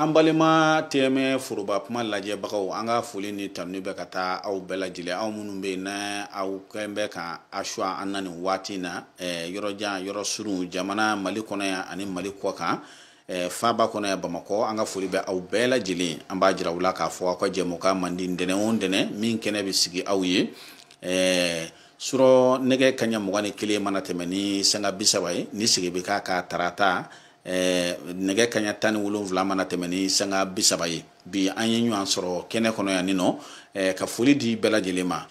an balima TM1 foroba kuma lajɛbagaw an ka foli ni tanuni bɛ ka taa aw bɛɛ lajɛlen aw minnu bɛ yen na aw kɛn bɛ ka a suwa an na nin waati in na yɔrɔjan yɔrɔ surun jamana mali kɔnɔ yan ani mali kɔkan Eh, faaba kɔnɔ yan bamakɔ an ka foli bɛ aw bɛɛ lajɛlen an b'a jira u la k'a fɔ aw ka jɛmukan mandi ntɛnɛn o ntɛnɛn min kɛnɛ bɛ sigi aw ye eh, su rɔ nɛgɛ kaɲa mugan ni kelen mana tɛmɛ ni sanga bi saba ye ni segin bɛ k'a kan tarata eh, nɛgɛ kaɲa tan ni wolonwula mana tɛmɛ ni sanga bi saba ye bi an ye ɲɔgɔn sɔrɔ kɛnɛ kɔnɔ yan ni nɔ ka foli di bɛɛ lajɛlen ma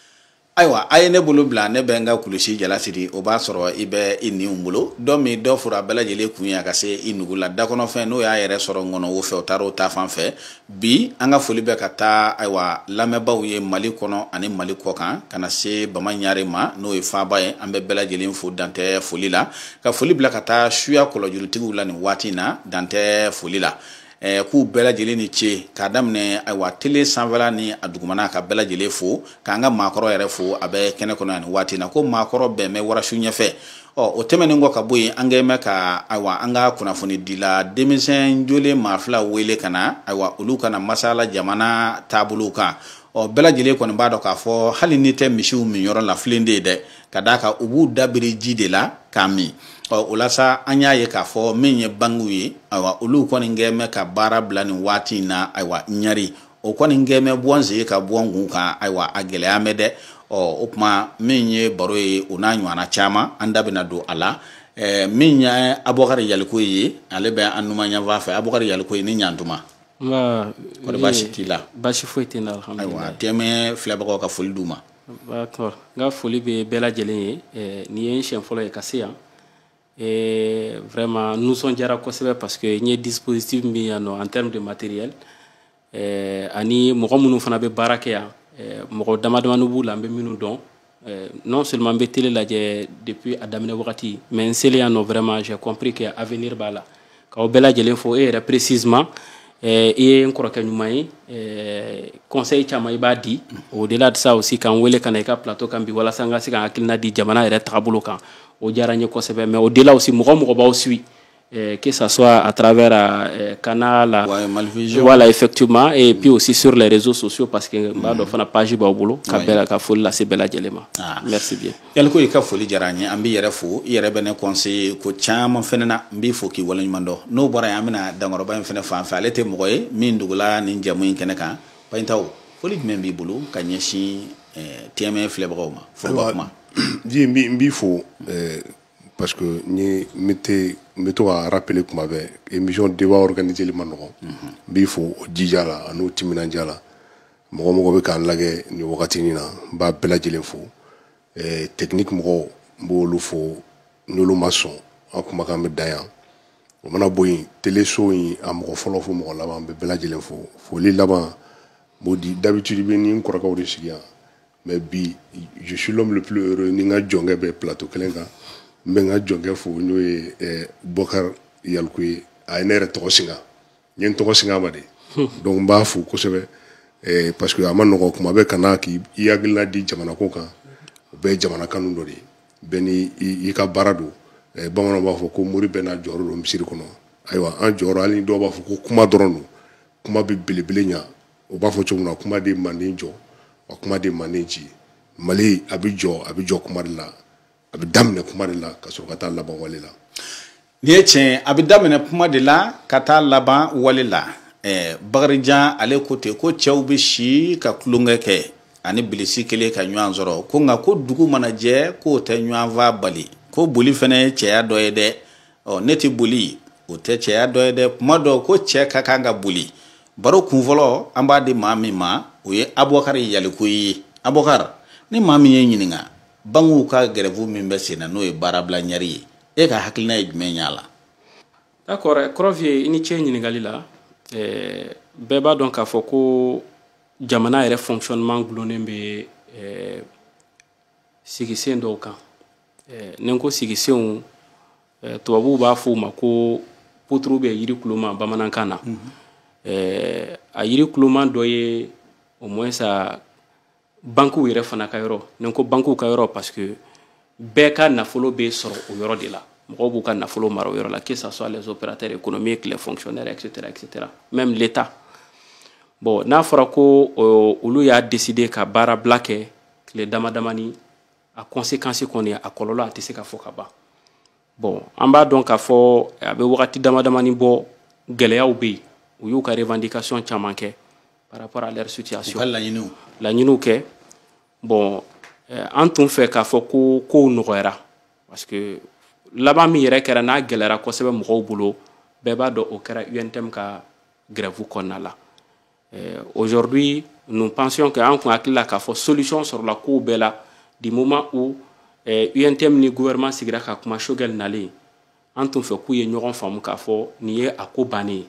ayiwa a ye ne bolo bila ne bɛ n ka kulusi jala siri o b'a sɔrɔ i bɛ i niw bolo dɔ min dɔ foron bɛɛ lajɛlen kun ye a ka se i nugu la dakɔnɔfɛn n'o y'a yɛrɛ sɔrɔ ŋɔnɔ wo fɛ o taara o ta fan fɛ bi an ka foli bɛ ka taa ayiwa lamɛnbaaw ye mali kɔnɔ ani mali kɔkan ka na se bama ɲare ma n'o ye faaba ye an bɛ bɛɛ lajɛlen fo dantɛ foli la ka foli bila ka taa suya kɔlɔjurutigiw la nin waati in na dantɛ foli la ɛɛ k'u bɛɛ lajɛlen ni ce k'a daminɛ ayiwa tele sanfɛla ni a dugumana ka bɛɛ lajɛlen fo k'an ka maakɔrɔ yɛrɛ fo a bɛ kɛnɛ kɔnɔ yan nin waati na ko maakɔrɔ bɛn bɛ warasu ɲɛfɛ ɔ o tɛmɛnen kɔ ka bɔ yen an kɛn bɛ ka ayiwa an ka kunnafonidila denmisɛn jolen maa fila wele ka na ayiwa olu ka na masala jamana taabolo kan ɔ bɛɛ lajɛlen kɔni b'a dɔn k'a fɔ hali n'i tɛ misiw minyɔrɔ la filen de ye dɛ ka d'a kan u b'u da biri ji de la k'a min ɔ o la sa an y'a ye k'a fɔ min ye bankiw ye ayiwa olu kɔni kɛ mɛ ka baara bila nin waati in na ayiwa ɲari o kɔni kɛ mɛ bɔ n sen kan bɔ n kun kan ayiwa a gɛlɛya mɛ dɛ ɔ o tuma min ye baro ye o n'a ɲɔgɔnna caman an da bɛna don a la ɛɛ min ye abubakari yalikoye ale bɛ an numan yanfan fɛ abubakari yalikoye ni ɲantuma kɔni baasi t'i la baasi foyi tɛ n na ayiwa TM1 filɛbagaw ka foli d'u ma D'accord. N ka foli bɛ bɛɛ lajɛlen ye eh, nin ye n siɲɛ fɔlɔ ye ka se yan eh, vraiment n nisɔndiyara kosɛbɛ parce que n ye dispositif min yan nɔ en terme de matériel eh, ani mɔgɔ minnu fana bɛ baara kɛ yan mɔgɔ damadamanin b'u la n bɛ minnu dɔn non seulement n bɛ télé lajɛ depuis a daminɛ wagati mais n selen yan nɔ vraiment j'ai compris que avenir b'a la k'aw bɛɛ lajɛlen fo e yɛrɛ précisément eh, i ye n kɔrɔkɛ ɲuman ye eh, conseil caman i b'a di au-delà de ça aussi k'an wele ka na i ka plateau kan bi walasa n ka se ka hakilina di jamana yɛrɛ tagabolo kan o diyara n ye kosɛbɛ mais au-delà aussi mɔgɔ o mɔgɔ b'aw suit eh, que ça soit à travers euh, canal ouais, Malivision. voilà effectivement et puis aussi sur les réseaux sociaux parce que n b'a dɔn fana page b'aw bolo ka bɛɛ la ka foli lase bɛɛ lajɛlen ma merci bien yaliko i ka foli diyara an ye an b'i yɛrɛ fo i yɛrɛ bɛ ne conseiller ko caman fɛnɛ na n b'i fo k'i waleɲuman dɔn n'o bɔra yen an bɛna dankɔrɔba in fɛnɛ fan fɛ ale tɛ mɔgɔ ye min dugula nin jamu in kɛnɛ kan bayintaw foli jumɛn b'i bolo ka ɲɛsin eh, tm1 filɛbagaw ma foroba kuma ji n b'i- n b'i fo eh, parce que n ye n bɛ te- n bɛ to ka rappeler kuma bɛɛ émission débat organiseli ma nɔgɔn n b'i fo o jija la an'o timinandiya la mɔgɔ mɔgɔ bɛ k'an lajɛ nin wagatinin na n b'a bɛɛ lajɛlen fo eh, technique mɔgɔw n b'olu fo n'olu ma sɔn an kumakan bɛ dan yan o mana bɔ yen teleso in a mɔgɔ fɔlɔ fo mɔgɔ laban n bɛ bɛɛ lajɛlen fo foli laban n b'o di d'habitude i bɛ ni n kɔrɔkɛw de sigi yan mais bi je suis l'homme le plus heureux ni n ka jɔnkɛ bɛ plateau kelen kan n bɛ n ka jɔnkɛ fo n'o ye eh, bubakari yaliko ye a ye ne yɛrɛ tɔgɔ singa n ye n tɔgɔ singa a ma de donc n b'a fo kosɛbɛ eh, parce que a ma nɔgɔ kuma bɛɛ ka na k'i hakilina di jamana ko kan o bɛɛ ye jamana kanu dɔ de ye bɛɛ ni i ka baara don eh, bamananw b'a fɔ ko mori bɛɛ n'a jɔyɔrɔ don misiri kɔnɔ ayiwa an jɔyɔrɔ hali dɔw b'a fɔ ko kuma dɔrɔn don kuma bɛ belebele ɲa o b'a fɔ cogo min na kuma de manden jɔ wa kuma de manden ci mali a bɛ jɔ a bɛ jɔ kuma de la a bɛ daminɛ kuma de la ka sɔrɔ ka taa laban wale la nin ye tiɲɛ a bɛ daminɛ kuma de la ka taa laban wale la ɛɛ bakarijan ale ko ten ko cɛw bɛ si ka tulonkɛ kɛ ani bilisi kelen ka ɲɔgɔn sɔrɔ ko nka ko dugu mana jɛ k'o tɛ ɲɔgɔn fa bali ko boli fana ye cɛya dɔ ye dɛ ɔ ne tɛ boli o tɛ cɛya dɔ ye dɛ kuma dɔ ko cɛ ka kan ka boli baro kunfɔlɔ an b'a di maa min ma o ye abubakari yaliko ye abubakari ni maa min ye ɲininka bankiw ka gɛrɛfu min bɛ sen na n'o ye baarabila ɲɛri ye e ka hakilina ye jumɛn y'a la d'accord kɔrɔfiye i ni ce ɲininkali la eh, bɛɛ b'a dɔn k'a fɔ ko jamana yɛrɛ fonctionnement gulonnen bɛ eh, sigisen dɔw kan eh, ni n ko sigisenw eh, tubabuw b'a fɔ u ma ko poutre bɛ yiri kuloma bamanankan na mm -hmm. eh, a yiri kuloma dɔ ye au moins a bankiw yɛrɛ fana ka yɔrɔ ni n ko bankiw ka yɔrɔ parce que bɛɛ ka nafolo bɛ sɔrɔ o yɔrɔ de la mɔgɔw b'u ka nafolo mara o yɔrɔ la que ça soit les opérateurs économiques les fonctionnaires etc etc même l'état bon n'a fɔra ko euh, olu y'a décider ka baarabila kɛ tile dama damani a conséquence kɔni a kɔlɔlɔ a tɛ se ka fɔ ka ban bon an b'a dɔn k'a fɔ a bɛ wagati dama damani bɔ gɛlɛyaw bɛ yen u y'u ka revendication caman kɛ par rapport à leur situation laɲiniw laɲiniw kɛ bon eh, an tun fɛ k'a fɔ ko kow nɔgɔyara parce que laban min yɛrɛ kɛra n'a gɛlɛyara kosɛbɛ mɔgɔw bolo bɛɛ b'a dɔn o kɛra untm ka grève kɔnɔna la eh, aujourd'hui nous pensions que an kun hakili la k'a fɔ solution sɔrɔla kow bɛɛ la du moment où eh, UNTM ni gouvernement sigira ka kuma Choguel nalen an tun fɛ k'u ye ɲɔgɔn faamu k'a fɔ nin ye a ko bannen ye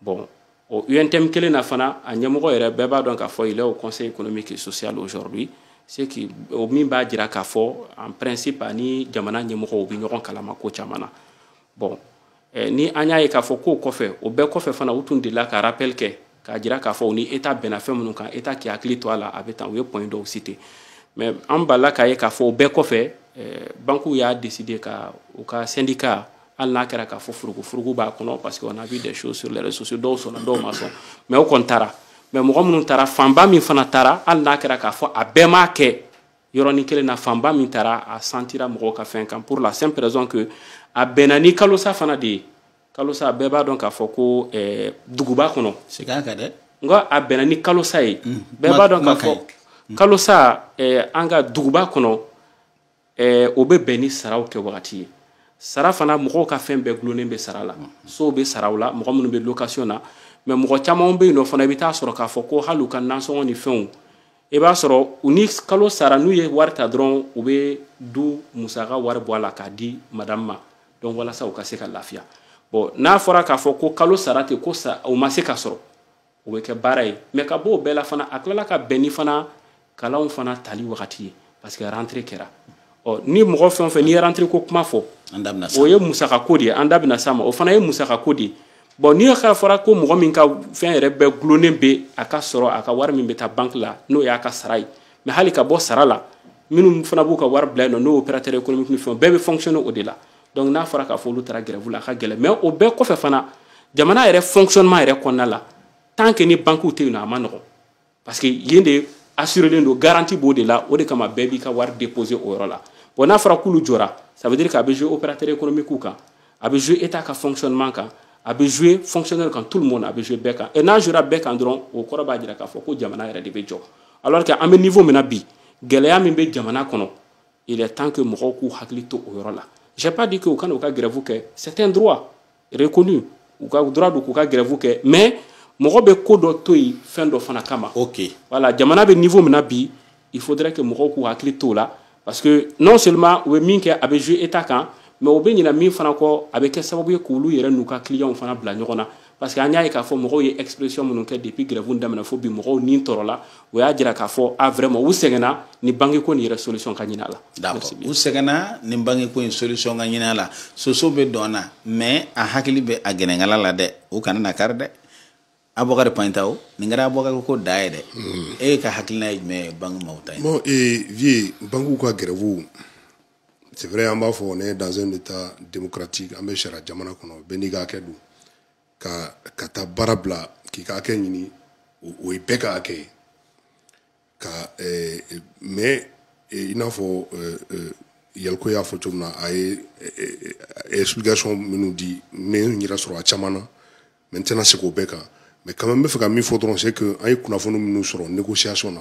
bon o UNTM kelen na fana a ɲɛmɔgɔ yɛrɛ bɛɛ b'a dɔn k'a fɔ il est au conseil économique et social aujourd'hui ce qui o min b'a jira k'a fɔ en principe ani jamana ɲɛmɔgɔw bɛ ɲɔgɔn kalama ko caman na bon Eh, ni an y'a ye k'a fɔ k'o kɔfɛ o bɛɛ kɔfɛ fana u tun delila ka rappel kɛ k'a jira k'a fɔ u ni état bɛnna fɛn minnu kan état k'i hakili to a la a bɛ tan u ye points dɔw cité mais an balila k'a ye k'a fɔ o bɛɛ kɔfɛ eh, bankiw y'a décidé ka u ka syndicat hali n'a kɛra k'a fɔ furugufurugu b'a kɔnɔ parce que on a vu des choses sur les réseaux sociaux dɔw sɔnna dɔw ma sɔn mais o kɔni taara mais mɔgɔ minnu taara fanba min fana taara hali n'a kɛra k'a fɔ a bɛɛ m'a kɛ yɔrɔnin kelen na fanba min taara a sentira mɔgɔw ka fɛn kan pour la simple raison que a bɛnna ni kalosa fana de ye kalosa bɛɛ b'a dɔn k'a fɔ ko eh, duguba kɔnɔ segin a kan dɛ nka a bɛnna ni kalosa ye mm. bɛɛ b'a dɔn k'a fɔ mm. kalosa eh, an ka duguba kɔnɔ eh, o bɛ bɛn ni saraw kɛ wagati ye sara fana mɔgɔw ka fɛn bɛɛ gulonnen bɛ sara la mm. sow bɛ saraw la mɔgɔ minnu bɛ location na mais mɔgɔ camanw bɛ yen nɔ fana i bɛ taa sɔrɔ k'a fɔ ko hali u ka nansɔngɔ ni fɛnw i b'a sɔrɔ u ni kalo sara n'u ye wari ta dɔrɔn u bɛ du musaka wari bɔ a la k'a di madamu ma donc walasa u ka se ka lafiya bon n'a fɔra k'a fɔ ko kalo sara tɛ ko o ma se ka sɔrɔ o bɛ kɛ baara ye mais ka bɔ o bɛɛ la fana a tilala ka bɛn ni fana kalanw fana tali wagati ye parce que rentrée kɛra ɔ ni mɔgɔ fɛn o fɛn n'i ye rentrée ko kuma fɔ o ye musaka ko de ye an da bɛna s'a ma o fana ye musaka ko de ye bon n'i k'a fɔra ko mɔgɔ min ka fɛn yɛrɛ bɛɛ gulonnen bɛ a ka sɔrɔ a ka wari min bɛ taa banki la n'o y'a ka sara ye mais hali ka bɔ sara la minnu fana b'u ka wari bila yen nɔ n'o opérateur économique ni fɛnw bɛɛ bɛ fonctionner o de la donc n'a fɔra k'a fɔ olu taara grève la a ka gɛlɛn mais o bɛɛ kɔfɛ fana jamana yɛrɛ fonctionnement yɛrɛ kɔnɔna la tant que ni bankiw tɛ yen nɔ a man nɔgɔn parce que yen de assurelen don garantie b'o de la o de kama bɛɛ b'i ka wari déposer o yɔrɔ la bon n'a fɔra k'olu jɔra ça veut dire que a bɛ jouer opérateur économique kan a bɛ jouer état ka fonctionnement kan a bɛ jouer fonctionnaire kan tout le monde a bɛ jouer bɛɛ kan et n'a jouera bɛɛ kan dɔrɔn o kɔrɔ b'a jira k'a fɔ ko jamana yɛrɛ de bɛ jɔ alors que an bɛ niveau min na bi gɛlɛya min bɛ jamana kɔnɔ il est temps que mɔgɔw k'u hakili to o yɔrɔ la j'ai pas dit que u kana u ka grève kɛ c'est un droit reconnu u ka droit don k'u ka grève kɛ mais mɔgɔ bɛ ko dɔ to yen fɛn dɔ fana kama ok voilà jamana bɛ niveau min na bi il faudrait que mɔgɔw k'u hakili t'o la parce que non seulement u bɛ min kɛ a bɛ jouer état kan mais u bɛ ɲina min fana kɔ a bɛ kɛ sababu ye k'olu yɛrɛ n'u ka clients fana bila ɲɔgɔn na parce que an y'a ye k'a fɔ mɔgɔw ye expression minnu kɛ depuis grève daminɛ fo bi mɔgɔw ni tɔɔrɔla o y'a jira k'a fɔ a ah, vraiment u sɛgɛnna ni banque ko nin yɛrɛ solution ka ɲini a la d'accord u sɛgɛnna ni banque ko in solution ka ɲini a la soso bɛ dɔn na mais a hakili bɛ a gɛnɛnkala la dɛ u kana na kari dɛ abubakari panta o nin kɛra abubakari ko da ye dɛ hmm. e ka hakilina ye jumɛn ye banque maaw ta ye bon ee vie banquew ka grève c'est vrai an b'a fɔ on est dans un état démocratique an bɛ sariya jamana kɔnɔ bɛɛ n'i ka hakɛ don ka ka taa baara bila k'i ka hakɛ ɲini o ye bɛɛ ka hakɛ ye quand même i n'a fɔ yɛlɛko y'a fɔ cogo min na a ye explication minnu di n bɛ n yɛrɛ sɔrɔ a caman na mais n tɛna segin o bɛɛ kan mais quand même n bɛ fɛ ka min fɔ dɔrɔn c'est que an ye kunnafoni minnu sɔrɔ négociation na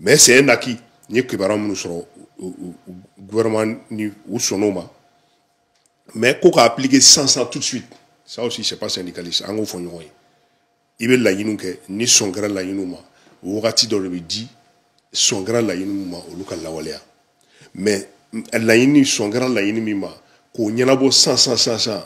mais c'est un acquis n ye kibaruya minnu sɔrɔ gouvernement ni u sɔnn'o ma mais ko k'a appliquer san san tout de suite ça aussi c'est pas syndicaliste an k'o fɔ ɲɔgɔn ye i bɛ laɲiniw kɛ ni sɔn kɛra laɲiniw ma wagati dɔ de bɛ di sɔn kɛra laɲini minnu ma olu ka lawaleya mais laɲini sɔn kɛra laɲini min ma k'o ɲɛnabɔ san san san san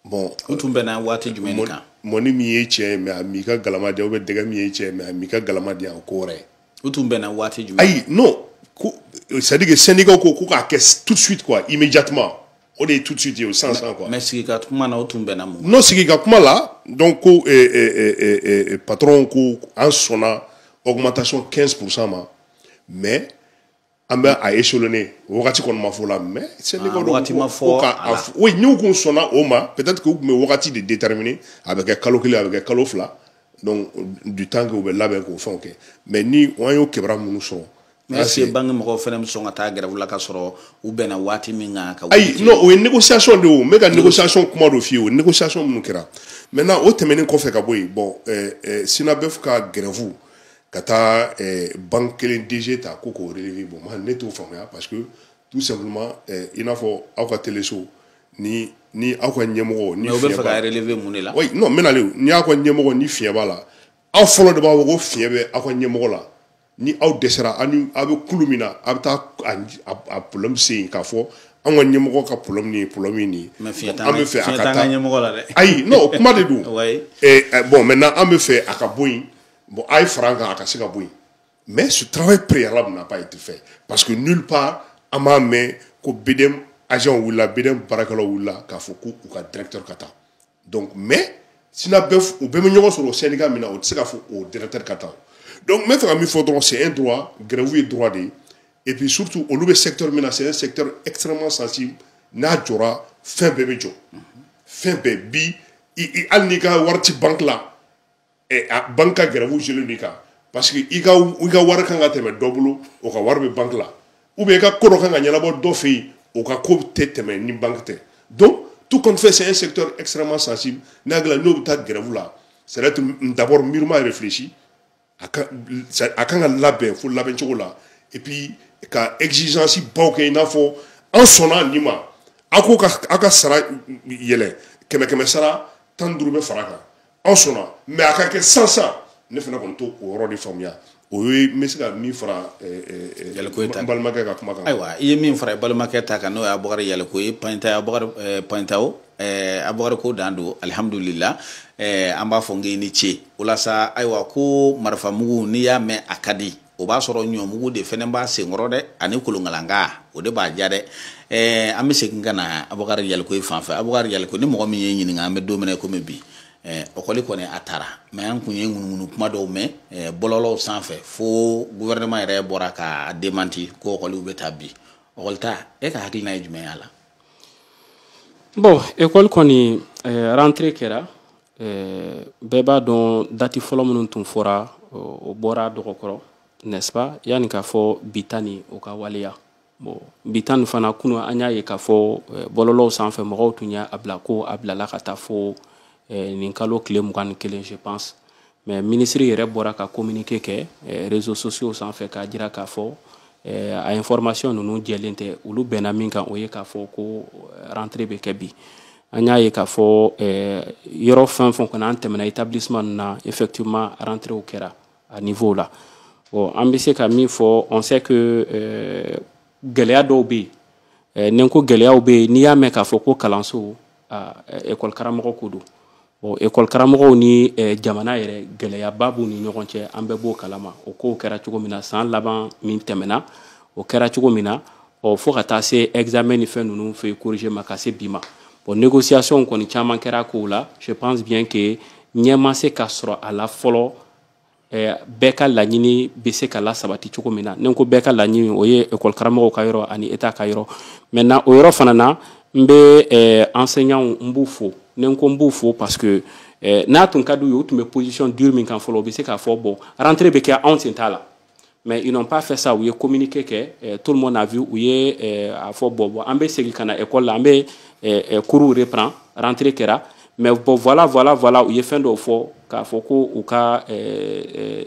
bon u tun bɛnna waati jumɛn de kan mɔni min ye tiɲɛ ye mais a m'i ka galama di yan ou bien dɛgɛ min ye tiɲɛ ye mais a m'i ka galama di yan o ko wɛrɛ ye u tun bɛnna waati jumɛn ayi non ko c'est à dire que syndicat ko ko k'a kɛ tout de suite quoi immédiatement o de ye tout de suite ye o san san quoi mais sigi ka kuma na o tun bɛnna mun non sigi ka kuma la donc ko eh, eh, eh, eh, eh patron ko an sɔnna augmentation 15 pourcent ma mais an bɛ a échelonner wagati kɔni ma fɔ a la mais sɛbɛ ah, donc wagati ma fɔ a la oui n'u kun sɔnna o ma peut-être que u tun bɛ wagati de déterminer a bɛ kɛ kalo kelen a bɛ kɛ kalo fila donc du temps que u bɛ labɛn k'o fɛnw kɛ mais ni an y'o kibaruya minnu sɔrɔ mais est-ce que banque mɔgɔw fana bɛ sɔn ka taa grève la ka sɔrɔ u bɛnna waati min kan ka ayi non o ye négociation de ye o n bɛ ka négociation kuma dɔ f'i ye o négociation minnu kɛra maintenant o tɛmɛnen kɔfɛ ka bɔ yen bon eh, eh, SYNABEF ka grève ka taa eh, banque kelen DG ta ko k'o relever bon man ne t'o faamuya parce que tout simplement eh, i n'a fɔ aw ka teleso ni ni aw ka ɲɛmɔgɔ ni fiɲɛ b'a la mais o bɛ fɛ k'a relever mun de la oui non n bɛna le ni aw ka ɲɛmɔgɔ ni fiɲɛ b'a la aw fɔlɔ de b'a fɔ ko fiɲɛ bɛ aw ka ɲɛmɔgɔ la ni aw dɛsɛra aw ni aw bɛ kulu min na aw bɛ taa a problème se yen k'a fɔ an ka ɲɛmɔgɔ ka problème ni problème ye nin ye an bɛ fɛ a ka taa ayi non kuma de don eh, eh, bon maintenant an bɛ fɛ a ka bɔ yen Bon, a ye fara an kan a ka se ka bɔ yen mais ce travail préalable n'a pas été fait parce que nulle part an m'a mɛn ko BDM agent wulila BDM baarakɛlaw wulila k'a fɔ ko u ka directeur ka taa donc mais SYNABEF u bɛɛ bɛ ɲɔgɔn sɔrɔ o syndicat min na o tɛ se k'a fɔ o directeur ka taa donc n bɛ fɛ ka min fɔ dɔrɔn c'est un droit grève ye droit de ye et puis surtout olu bɛ secteur min na c'est un secteur extrêmement sensible n'a jɔra fɛn bɛɛ bɛ jɔ fɛn bɛɛ bi hali n'i ka wari tɛ banque la eh, a banque ka grève jeli ni kan parce que i ka i ka wari kan ka tɛmɛ dɔ bolo o ka wari bɛ banque la ou bien i ka ko dɔ kan ka ɲɛnabɔ dɔ fɛ yen o ka ko tɛ tɛmɛ ni banque tɛ donc tout compte fait c'est un secteur extrêmement sensible n'a hakili la n'o bɛ taa grève la ça doit être d'abord mûrement réfléchi a kan a kan ka labɛn fo labɛn cogo la et puis ka exigence baw kɛ i n'a fɔ an sɔnna nin ma a ko ka a ka sara yɛlɛ kɛmɛ kɛmɛ sara tan ni duuru bɛ fara kan an sɔnna mais a ka kɛ sansan ne fana kɔni t'o yɔrɔ de faamuya o ye n bɛ se ka min fara balimakɛ ka kuma kan ayiwa i ye min fara i balimakɛ ta kan n'o ye abubakari yalikoye pantanya panta o a bakari ko dan don alihamdulila an b'a fɔ n k'i ni ce o la sa ayiwa ko marifa mugu n'i y'a mɛn a ka di o b'a sɔrɔ ɲɔmugu de fɛnɛ b'a senkɔrɔ dɛ ani kolonkalanka o de b'a ja dɛ ɛɛ an bɛ segin ka na abubakari yalikoye fan fɛ abubakari yaliko ni mɔgɔ min y'i ɲininka an bɛ don min na komi bi ɛɛ ɔkɔli kɔni a tara mais an kun ye ŋunuŋunu kuma dɔw mɛn ɛɛ bɔlɔlɔw sanfɛ fo guvɛrɛnɛman yɛrɛ bɔra ka démenti ko ɔkɔliw bɛ ta bi ɔkɔlita e ka hakilina ye jumɛn y'a la bon ekɔli kɔni ɛɛ eh, rentrée kɛra Euh, bɛɛ b'a dɔn dati fɔlɔ minnu tun fɔra o bɔra dɔgɔkɔrɔ n'est-ce pas yani k'a fɔ bi ta nin o ka waleya bon bi ta nin fana kunu an y'a ye k'a fɔ euh, bɔlɔlɔw sanfɛ mɔgɔw tun y'a bila ko a bilala ka taa fo euh, nin kalo tile mugan ni kelen je pense mais ministre yɛrɛ bɔra ka communiqué kɛ eh, réseaux sociaux sanfɛ k'a jira k'a fɔ eh, a information ninnu jɛlen tɛ olu bɛnna min kan o ye k'a fɔ ko eh, rentrée bɛ kɛ bi an y'a ye k'a fɔ yɔrɔ fɛn fɛn kɔni an tɛmɛna établissement ninnu na effectivement rentréew kɛra a niveau la bon an bɛ se ka min fɔ on sait que gɛlɛya dɔw bɛ yen ni n ko gɛlɛyaw bɛ yen n'i y'a mɛn k'a fɔ ko kalanso ekɔli karamɔgɔ ko don Bon école karamɔgɔw ni eh, jamana yɛrɛ gɛlɛyaba b'u ni ɲɔgɔn cɛ an bɛɛ b'o kalama o kow kɛra cogo min na san laban min tɛmɛna o kɛra cogo min na ɔ fo ka taa se examen ni fɛn ninnu feuille corriger ma ka se bi ma bon négociation kɔni caman kɛra kow la je pense bien que ɲɛ ma se ka sɔrɔ a la fɔlɔ eh, bɛɛ ka laɲini bɛ se ka lasabati cogo min na ni n ko bɛɛ ka laɲini o ye ekɔli karamɔgɔw ka yɔrɔ ani état ka yɔrɔ maintenant o yɔrɔ fana na n bɛ eh, enseignants n b'u fo ni n ko n b'u fo parce que eh, n'a tun ka d'u ye u tun bɛ position dure min kan fɔlɔ u bɛ se k'a fɔ bon rentrée bɛ kɛ anw sen t'a la mais ils n'ont pas fait ça u ye communiqué kɛ eh, tout le monde a vu u ye eh, a fɔ bon bon an bɛ segin ka na école la an bɛ eh, coursw reprend rentrée kɛra mais bon voilà voilà voilà u ye fɛn dɔw fɔ k'a fɔ ko u ka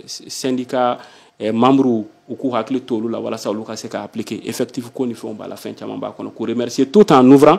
syndicat membres u k'u hakili to olu la walasa olu ka se ka appliquer effectif ko ni fɛnw b'a la fɛn caman b'a kɔnɔ k'u remercier tout en ouvrant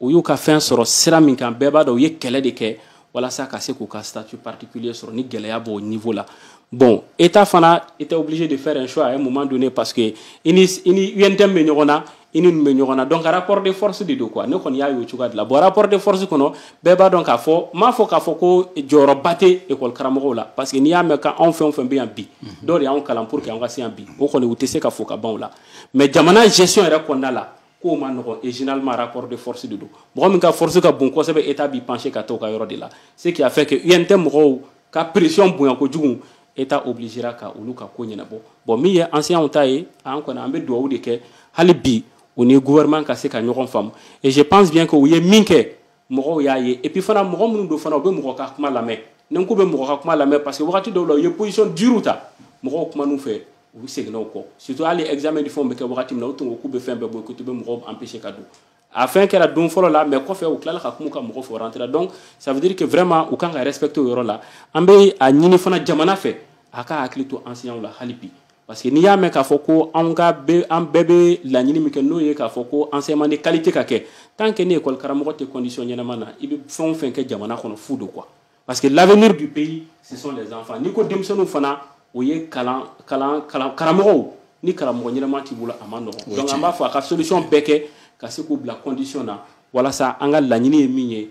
u y'u ka fɛn sɔrɔ sira min kan bɛɛ b'a dɔn u ye kɛlɛ de kɛ walasa ka se k'u ka statut particulier sɔrɔ ni gɛlɛya b'o niveau la bon état fana était obligé de faire un choix à un moment donné parce que i ni i ni UNTM bɛ ɲɔgɔn na i ni ninnu bɛ ɲɔgɔn na donc rapport de force de don quoi ne kɔni y'a y'o cogoya de la bon rapport de force kɔnɔ bɛɛ b'a dɔn k'a fɔ n m'a fɔ k'a fɔ ko jɔyɔrɔba tɛ école karamɔgɔw la parce que n'i y'a mɛn k'anw fɛn o fɛn bɛ yan bi dɔw de y'anw kalan pour que an ka se yan bi o kɔni u tɛ se ka fo ka ban o la mais jamana gestion yɛrɛ kɔnɔna la k'o man nɔgɔn et généralement rapport de force de don mɔgɔ min ka force ka bon kosɛbɛ état b'i pencher ka taa o ka yɔrɔ de la ce qui a fait que UNTM mɔgɔw ka pression bonya kojugu état obligera ka olu ka ko ɲɛnabɔ bon min ye enseignants ta ye an kɔni an bɛ duwawu de kɛ hali bi u ni gouvernement ka se ka ɲɔgɔn faamu et je pense bien que u ye min kɛ mɔgɔw y'a ye et puis fana mɔgɔ minnu don fana u bɛ mɔgɔ ka kuma lamɛn ni ko bɛ mɔgɔ ka kuma lamɛn parce que wagati dɔw la u ye position dure ta mɔgɔw kuman'u fɛ u seginna u kɔ surtout hali examen ni fɛnw bɛ kɛ wagati min na u tun ko k'u bɛ fɛn bɛɛ boycotter u bɛ mɔgɔw empêcher ka don a fɛn kɛra don fɔlɔ la mais kɔfɛ u tilala ka kuma ka mɔgɔw faire rentrer donc ça veut dire que vraiment u kan ka respecter o yɔrɔ la an bɛ a ɲini fana jamana fɛ a ka hakili to enseignants la hali bi parce que n'i y'a mɛn k'a fɔ ko an ka bɛ an bɛɛ bɛ laɲini min kɛ n'o ye k'a fɔ ko enseignement de qualité ka kɛ tant que ni école karamɔgɔ tɛ condition ɲɛnama na i bɛ fɛn o fɛn kɛ jamana kɔnɔ fu don quoi parce que l'avenir du pays ce sont les enfants n'i ko denmisɛnninw fana o ye kalan kalan kalan karamɔgɔw ni karamɔgɔ ɲɛnama t'i bolo a man nɔgɔn donc an b'a fɔ a ka solution bɛɛ kɛ ka se k'u bila condition na walasa an ka laɲini ye min ye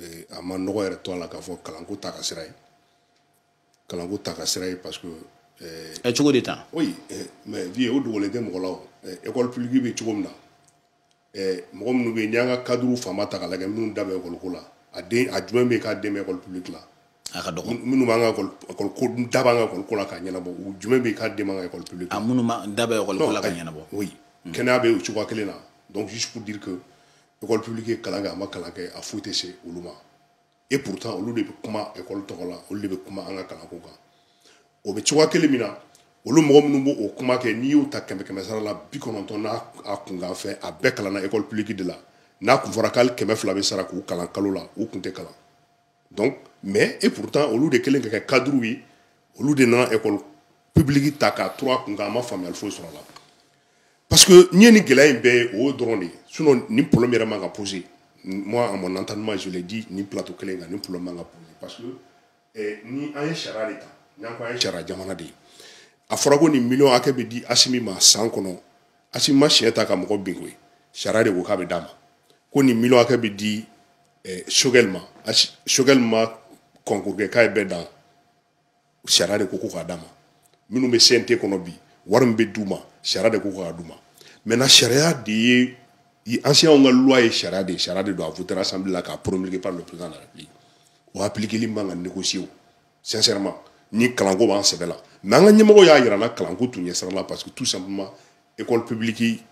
eh, a ma nɔgɔ yɛrɛ to a la k'a fɔ kalanko ta ka sira ye kalanko ta ka sira ye parce que eh, ɛ cogo de tan oui eh, mais vie o dogolen tɛ mɔgɔ la o école publique bɛ cogo min na mɔgɔ minnu bɛ yen n'i y'an ka cadre fanba ta k'a lajɛ minnu da bɛ ekɔliko la a den a jumɛn bɛ yen k'a den bɛ école publique la a ka dɔgɔ minnu b'an ka ekɔliko da b'an ka ekɔliko la k'a ɲɛnabɔ u jumɛn bɛ yen k'a den b'an ka école publique la a minnu da bɛ ekɔliko la ka ɲɛnabɔ oui kɛnɛya bɛ o cogoya kelen na donc juste pour dire que école publique ye kalan kɛ a ma kalan kɛ a foyi tɛ se olu ma et pourtant olu de bɛ kuma école tɔgɔ la olu de bɛ kuma an ka kalanko kan o bɛ cogoya kelen min na olu mɔgɔ minnu b'o kuma kɛ n'i y'u ta kɛmɛ kɛmɛ sara la bi kɔnɔntɔn n'a kunkanfɛn a bɛɛ kalanna école publique de la n'a kun fɔra ko hali kɛmɛ fila bɛ sara k'u kalan kalo la u kun tɛ kalan donc mais et pourtant olu de kalanna ka kɛ cadre ye olu de nana école publique ta k'a turu a kun kan a ma faamuyali foyi sɔrɔ a la parce que n'i ye nin gɛlɛya in bɛɛ ye o dɔrɔn de ye sinon nin problème yɛrɛ man ka poser moi à mon entendement je l'ai dit nin plateau kelen kan nin problème man ka poser parce que eh, ni an ye sariya de ta n'an ko an ye sariya jamana de ye a fɔra ko nin miliyɔn hakɛ bɛ di Asimi ma san kɔnɔ Asimi ma siɲɛ ta ka mɔgɔ bin koyi sariya de ko k'a bɛ d'a ma ko nin miliyɔn hakɛ bɛ di eh, sogɛli ma sogɛli ma kɔnkuru kɛ k'a ye bɛɛ dan sariya de ko ko k'a d'a ma minnu bɛ cnt kɔnɔ bi wari min bɛ d'u ma sariya de ko k'a d'u ma maintenant sariya de ye enseignants ka loi ye sariya de ye sariya de don a votera assemblée la k'a promulguer par le président de la république o appliquer li man ka négocier o sincèrement ni kalanko b'an sɛbɛ la mais an ka ɲɛmɔgɔ y'a yira an na kalanko t'u ɲɛ sira la parce que tout simplement école publique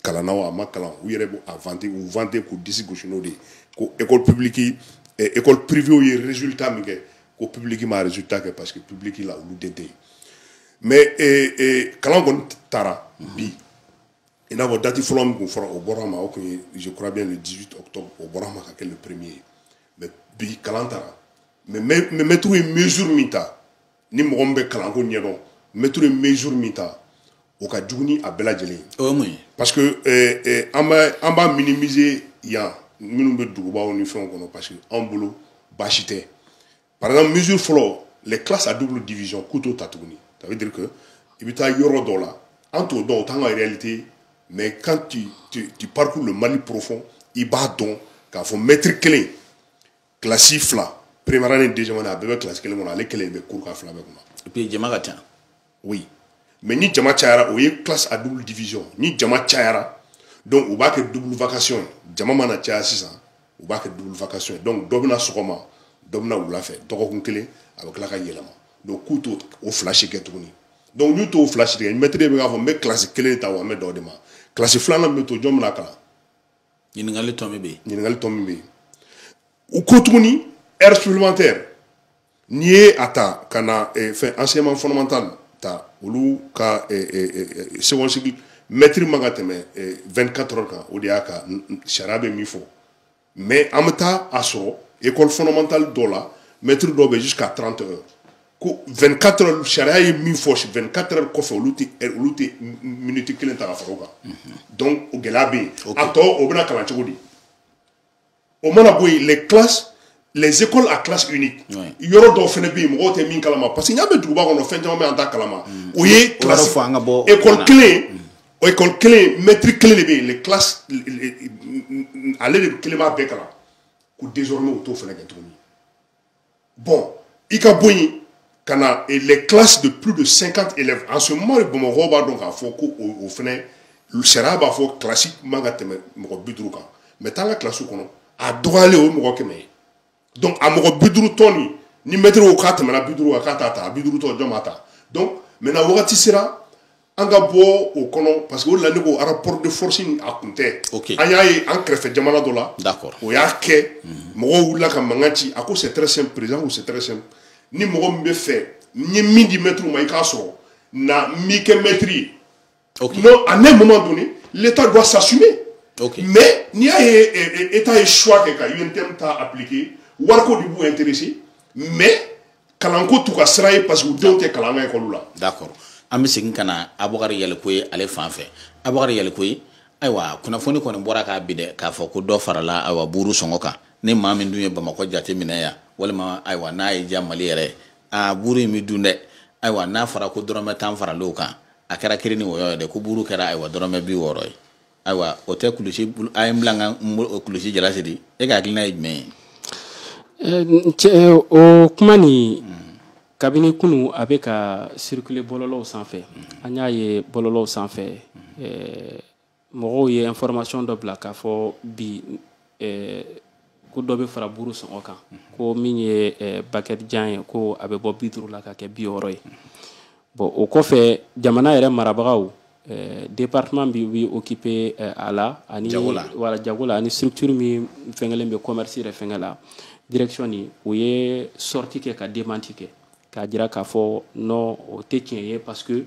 kalanna o a ma kalan u yɛrɛ bɛ a vanter u vanter k'u disi gosi n'o de ye ko école publique eh, école privée ye résultat min kɛ ko publique ma résultat kɛ parce que publique la olu den tɛ yen mais eh, eh, kalan kɔni taara bi i n'a fɔ dati fɔlɔ min tun fɔra o bɔra a ma o tun ye je crois bien le 18 octobre o bɔra a ma ka kɛ le premier ye mais bi kalan taara mais mɛtiri ye mesure min ta ni mɔgɔ min bɛ kalanko ɲɛdɔn mɛtiri ye mesure min ta o ka jugu ni a bɛɛ lajɛlen ye o ye mun ye parce que eh, eh, an b'a an b'a minimiser yan minnu bɛ dugubaw ni fɛnw kɔnɔ parce que anw bolo baasi tɛ par exemple mesure fɔlɔ les classes à double division k'u t'o ta tuguni ça veut dire que i bɛ taa yɔrɔ dɔw la an t'o dɔn o t'an ka réalité mais quand tu, tu, tu parcours le Mali profond i b'a dɔn k'a fɔ mɛtiri kelen kilasi fila première année deuxième année a bɛɛ bɛ kilasi kelen kɔnɔ ale kelen bɛ kuru k'a fila bɛɛ kɔnɔ et puis jama ka ca oui mais ni jama cayara o ye classe à double division ni jama cayara donc u b'a kɛ double vacation ye jama mana caya sisan u b'a kɛ double vacation ye donc dɔ bɛ na sɔgɔma dɔ bɛ na wula fɛ dɔgɔkun kelen a bɛ tila ka yɛlɛma donc k'u t'o o fila si kɛ tuguni donc n'u t'o fila si kɛ mɛtiri bɛ k'a fɔ n bɛ kilasi kelen ta wa n bɛ dan o de ma kilasi filanan bɛ to jɔn bɛn'a kalan ɲininkali tɔ min bɛ yen ɲininkali tɔ min bɛ yen u ko tuguni heure supplémentaire n'i ye a ta ka na eh, fɛn enseignement fondamental ta olu ka eh, eh, second cycle mɛtiri man ka tɛmɛ 24 heures kan o de y'a ka sariya bɛ min fɔ mais an bɛ taa a sɔrɔ école fondamentale dɔ la mɛtiri dɔ bɛ jusqu'à 30 heures ko 24 heures sariya ye min fɔ 24 heures kɔfɛ olu tɛ olu tɛ miniti kelen ta ka fara o kan donc o gɛlɛya bɛ yen a tɔ o bɛna kalan cogo di o mana bɔ yen les classes les écoles à classe unique yɔrɔ dɔw fana bɛ yen mɔgɔw tɛ min kalama parce que ni an bɛ duguba kɔnɔ fɛn caman bɛ an t'a kalama mm. o ye classe école kelen mm. école kelen mɛtiri kelen de bɛ yen les classes ale de kelen b'a bɛɛ kalan ko désormais u t'o fana kɛ tuguni bon i ka bɔ yen ka na eh, les classes de plus de 50 élèves en ce moment bamakɔ b'a dɔn k'a fɔ ko o fɛnɛ sariya b'a fɔ kilasi kelen man ka tɛmɛ mɔgɔ bi duuru kan mais taa an ka kilasiw kɔnɔ a dɔgɔyalen o ye mɔgɔ kɛmɛ ye donc a mɔgɔ bi duuru tɔ nin ni mɛtiri ko k'a tɛmɛna bi duuru kan k'a t'a ta a bi duuru tɔ jɔn b'a ta donc maintenant wagati sera an ka bɔ o kɔnɔ parce que o la ne ko rapport de force in a kun tɛ okay. an y'a ye an kɛrɛfɛ jamana dɔ la o y'a kɛ mm -hmm. mɔgɔw wulila ka mankan ci a ko c'est très simple président ko c'est très simple ni mɔgɔ min b'a fɛ n ye min di mɛtiriw ma i k'a sɔrɔ na n b'i kɛ mɛtiri ye okay. non à un moment donné l'état doit s'assumer okay. mais n'i y'a ye état ye choix kɛ ka UNTM ta appliquer wariko de b'u intéresser mais kalanko t'u ka sira ye parce que u denw tɛ kalan an ka ekɔliw la d'accord an bɛ segin ka na abubakari yalikuye ale fan fɛ abubakari yalikuye ayiwa kunnafoni kɔni bɔra k'a bi dɛ k'a fɔ ko dɔ farala ayiwa buuru sɔngɔ kan ni maa min dun ye bamakɔ jate minɛ yan walima ayiwa n'a y'i diya mali yɛrɛ a buuru in bɛ dun dɛ ayiwa n'a fɔra ko dɔrɔmɛ tan faralen o kan a kɛra kiri ni wɔyɔ ye dɛ ko buuru kɛra ayiwa dɔrɔmɛ bi wɔɔrɔ ye ayiwa o tɛ kulusi a ye n bila n ka kulusijala siri e ka hakilina ye jumɛn ye o kuma nin kabini kunun a bɛ ka circuler bɔlɔlɔw sanfɛ an y'a ye bɔlɔlɔw sanfɛ mɔgɔw ye information dɔ bila k'a fɔ bi ko dɔ bɛ fara buru sɔngɔ kan ko min ye eh, baguette jan ye ko a bɛ bɔ bi duuru la ka kɛ bi wɔɔrɔ ye bɔn o kɔfɛ jamana yɛrɛ marabagaw eh, département min bɛ occuper eh, a la ani wala jago la ani structure min fɛnkɛlen bɛ commerce yɛrɛ fɛnkɛ la direction ni o ye sortie kɛ ka démenti kɛ k'a jira k'a fɔ non o tɛ tiɲɛ ye parce que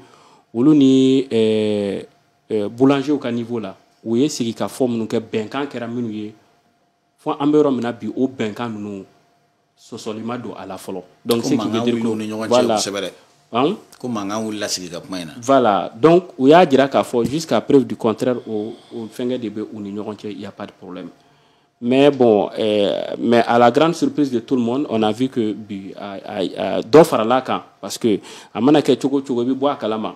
olu ni eh, eh, boulangerw ka niveau la u ye sigikafɔ minnu kɛ bɛnkan kɛra minnu ye fo an bɛ yɔrɔ min na bi o bɛnkan ninnu sɔsɔli ma don a la fɔlɔ donc ce qui veut dire k'u ni ɲɔgɔn cɛ kosɛbɛ dɛ hein? ko mankan wulila sigi ka kuma in na voilà donc u y'a jira k'a fɔ jusqu'à preuve du contraire o o fɛngɛ de bɛ u ni ɲɔgɔn cɛ il y a pas de problème mais bon euh, mais à la grande surprise de tout le monde on a vu que bi dɔ faral'a kan parce que a mana kɛ cogo cogo i bɛ bɔ a kalama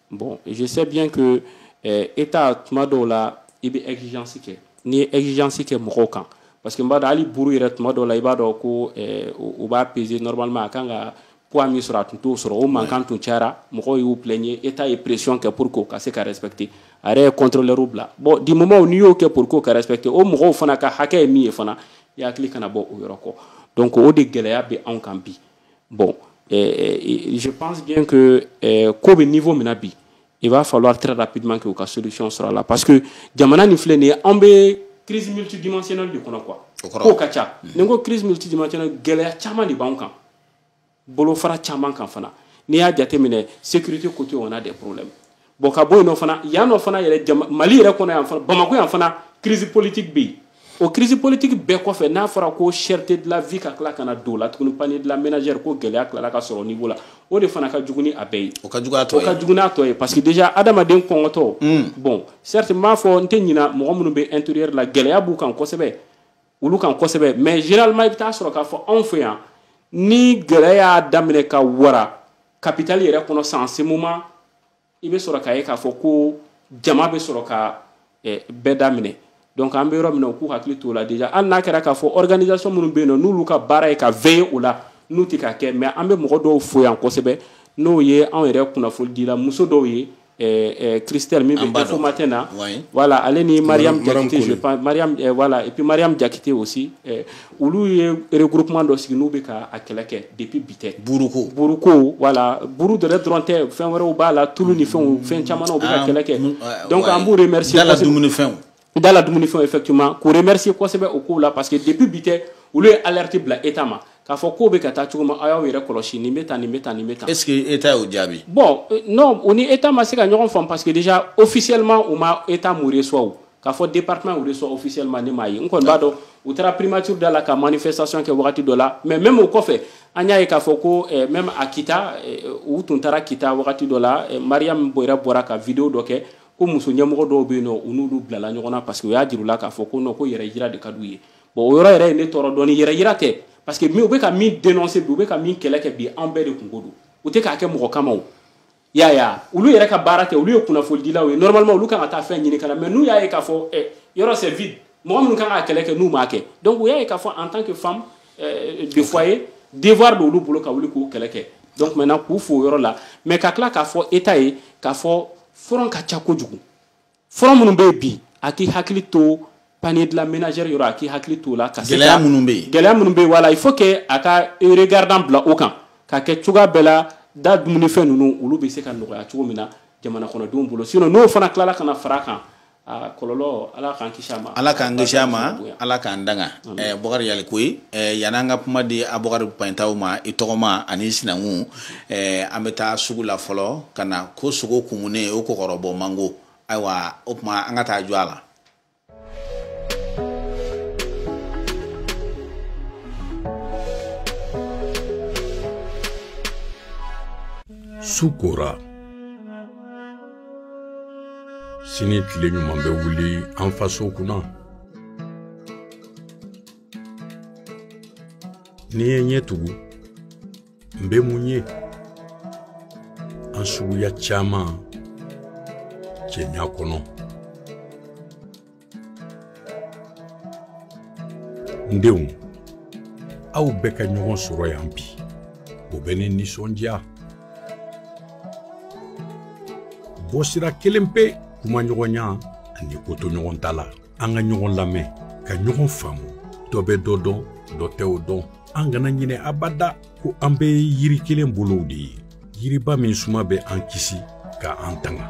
bon je sais bien que eh, état tuma dɔw la i bɛ exigence kɛ n'i ye exigence kɛ mɔgɔw kan parce que n b'a dɔn hali buru yɛrɛ tuma dɔw la i b'a dɔn ko eh, u b'a peser normalement a kan ka poids min sɔrɔ a tun t'o sɔrɔ o mankan tun cayara mɔgɔw y'u plaigner état ye pression kɛ pour que u ka se ka respecter a yɛrɛ ye contrôleur bila bon du moment n'i y'o kɛ pour que u ka respecter o mɔgɔw fana ka hakɛ ye min ye fana i hakili kana bɔ o yɔrɔ kɔ donc o de gɛlɛya bɛ anw kan bi bon je pense bien que ko bɛ niveau min na bi il va falloir très rapidement que u ka solution sɔrɔ a la parce que jamana nin filɛ nin ye an bɛ crise multidimensionnelle de kɔnɔ quoi kow ka ca ni n ko crise multidimensionnelle gɛlɛya caman de b'anw kan bolofara caman kan fana n'i y'a jateminɛ sécurité côté on a des problèmes bon ka bɔ yen nɔ fana yan nɔ fana yɛrɛ jama mali yɛrɛ kɔnɔ yan fana bamakɔ yan fana crise politique bɛ yen o crise politique bɛɛ kɔfɛ n'a fɔra ko cherté de la vie ka tila ka na don o la tuguni panier de la ménagère ko gɛlɛya tilala ka sɔrɔ niveau la o de fana ka jugu ni a bɛɛ ye o ka jugu n'a tɔ ye o ka jugu n'a tɔ ye parce que déjà adamaden kɔngɔtɔ hmm. bon certes n b'a fɔ n tɛ ɲina mɔgɔ minnu bɛ intérieur la gɛlɛya b'u kan kosɛbɛ olu kan kosɛbɛ mais généralement i bɛ taa sɔrɔ k'a fɔ anw fɛ yan ni gɛlɛya y'a daminɛ ka wara capitale yɛrɛ kɔnɔ sa en ce moment i bɛ sɔrɔ k'a ye k'a fɔ ko jama bɛ sɔrɔ ka eh, bɛɛ daminɛ donc an bɛ yɔrɔ min na u k'u hakili t'o la déjà hali n'a kɛra k'a fɔ organisation minnu bɛ yen nɔ n'olu ka baara ye ka veiller o la n'u tɛ k'a kɛ mais an bɛ mɔgɔ dɔw fo yan kosɛbɛ n'o ye anw yɛrɛ kunnafonidila muso dɔw ye euh, euh, Christelle min bɛ Info Matin na voilà ale ni Mariam Diakité je pense Mariam euh, voilà et puis Mariam Diakité aussi euh, olu ye regroupement dɔ sigi n'u bɛ ka a kɛlɛ kɛ depuis bi tɛ buruko buruko voilà buru dɔrɔn dɔrɔn tɛ fɛn wɛrɛw b'a la tulu ni fɛnw fɛn caman na u bɛ ka ah, kɛlɛ kɛ donc an b'u remercier da la dumunifɛnw da la dumunifɛn effectivement k'u remercier kosɛbɛ o kow la parce que depuis bi tɛ olu ye alerte bila état ma k'a fɔ ko bɛ ka taa cogo min aw y'aw yɛrɛ kɔlɔsi nin bɛ tan nin bɛ tan nin bɛ tan. est ce que état y'o jaabi. bon euh, non u ni état ma se ka ɲɔgɔn faamu parce que déjà officiellement u ma état m'u reçoit o k'a fɔ département y'u reçoit officiellement ne m'a ye n kɔni b'a dɔn u taara primature da la ka manifestation kɛ wagati dɔ la mais même o kɔfɛ an y'a ye k'a fɔ ko eh, même a kita eh, u tun taara kita wagati dɔ la eh, mariam yɛrɛ bɔra ka video dɔ kɛ ko muso ɲɛmɔgɔ dɔw bɛ yen nɔ u n'olu bilala ɲɔgɔn na parce que u y'a jir'u la k'a fɔ ko non ko yɛrɛ yira de ka d'u ye bon o yɔrɔ yɛrɛ ye ne tɔɔrɔ dɔɔni yɛrɛ yira tɛ parce que u bɛ ka min dénoncer bi u bɛ ka min kɛlɛ kɛ bi anw bɛɛ de kunko don u tɛ k'a kɛ mɔgɔ kama o y'a ye a olu yɛrɛ ka baara tɛ olu ye kunnafonidilaw ye normalement olu kan ka taa fɛn ɲini ka na mais n'u y'a ye k'a fɔ ɛ yɔrɔ c'est vide mɔgɔ minnu kan k'a kɛlɛ kɛ n'u m'a kɛ donc u y'a ye k'a fɔ en tant que femme euh, de foyer devoir de olu bolo ka wuli k'o kɛlɛ kɛ donc maintenant k'u fo o yɔrɔ la mais ka tila k'a fɔ état ye k'a fɔ front ka ca kojugu front minnu bɛ yen bi a k'i hakili to panier de la ménagère yɔrɔ a k'i hakili to o la ka se gɛlɛya minnu bɛ yen gɛlɛya minnu bɛ yen voilà il faut que a ka regardant bila o kan k'a kɛ cogoya bɛɛ la da dumunifɛn ninnu olu bɛ se ka nɔgɔya cogo min na jamana kɔnɔdenw bolo sinon n'o fana tilala ka na fara a kan a kɔlɔlɔ ala k'an kisi a ma ala k'an kisi a ma ala k'an tanga ɛɛ bɔkari yalikoyi ɛɛ yan'an ka kuma di a bɔkari payintaw ma i tɔgɔma ani i sinankun ɛɛ an bɛ taa sugu la fɔlɔ ka na ko sogo kumunen o kɔkɔrɔbɔ man go ayiwa o tuma an ka taa jɔ a la su kora sini tile ɲuman bɛ wuli an faso kunna ni n ye n ɲɛ tugu n bɛ mun ye an suguya caman cɛɲa kɔnɔ n denw aw bɛɛ ka ɲɔgɔn sɔrɔ yan bi o bɛ ne nisɔndiya bɔsira kelen pe kumaɲɔgɔnya ani kotoɲɔgɔntala an ka ɲɔgɔn lamɛn ka ɲɔgɔn faamu dɔ bɛ dɔ dɔn dɔ tɛ o dɔn an kana ɲinɛ abada ko an bɛ yiri kelen bolow de ye yiriba min suma bɛ an kisi ka an tanga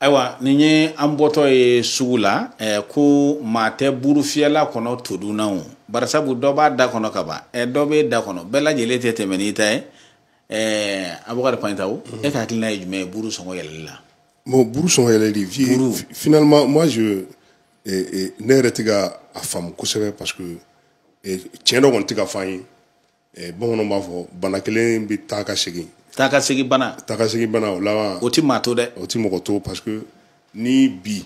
ayiwa nin ye an bɔtɔ ye sugu la eh, ko maa tɛ buru fiyɛla kɔnɔ todun na o barisabu dɔ b'a da kɔnɔ ka ban eh, dɔ b'e da kɔnɔ bɛɛ lajɛlen tɛ tɛmɛ n'i ta ye eh, abubakari paitao mm -hmm. e ka hakilina ye jumɛn ye buru sɔngɔ yɛlɛli la bon buru sɔngɔ yɛlɛli vie buru. finalement moi je eh, eh, ne yɛrɛ tɛ ka a faamu kosɛbɛ parce que eh, tiɲɛ dɔ kɔni tɛ ka fɔ an ye Eh, bamananw b'a fɔ bana kelen bɛ taa ka segin taa ka segin bana taa ka segin bana o laban o tɛ maa to dɛ o tɛ mɔgɔ to parce que ni bi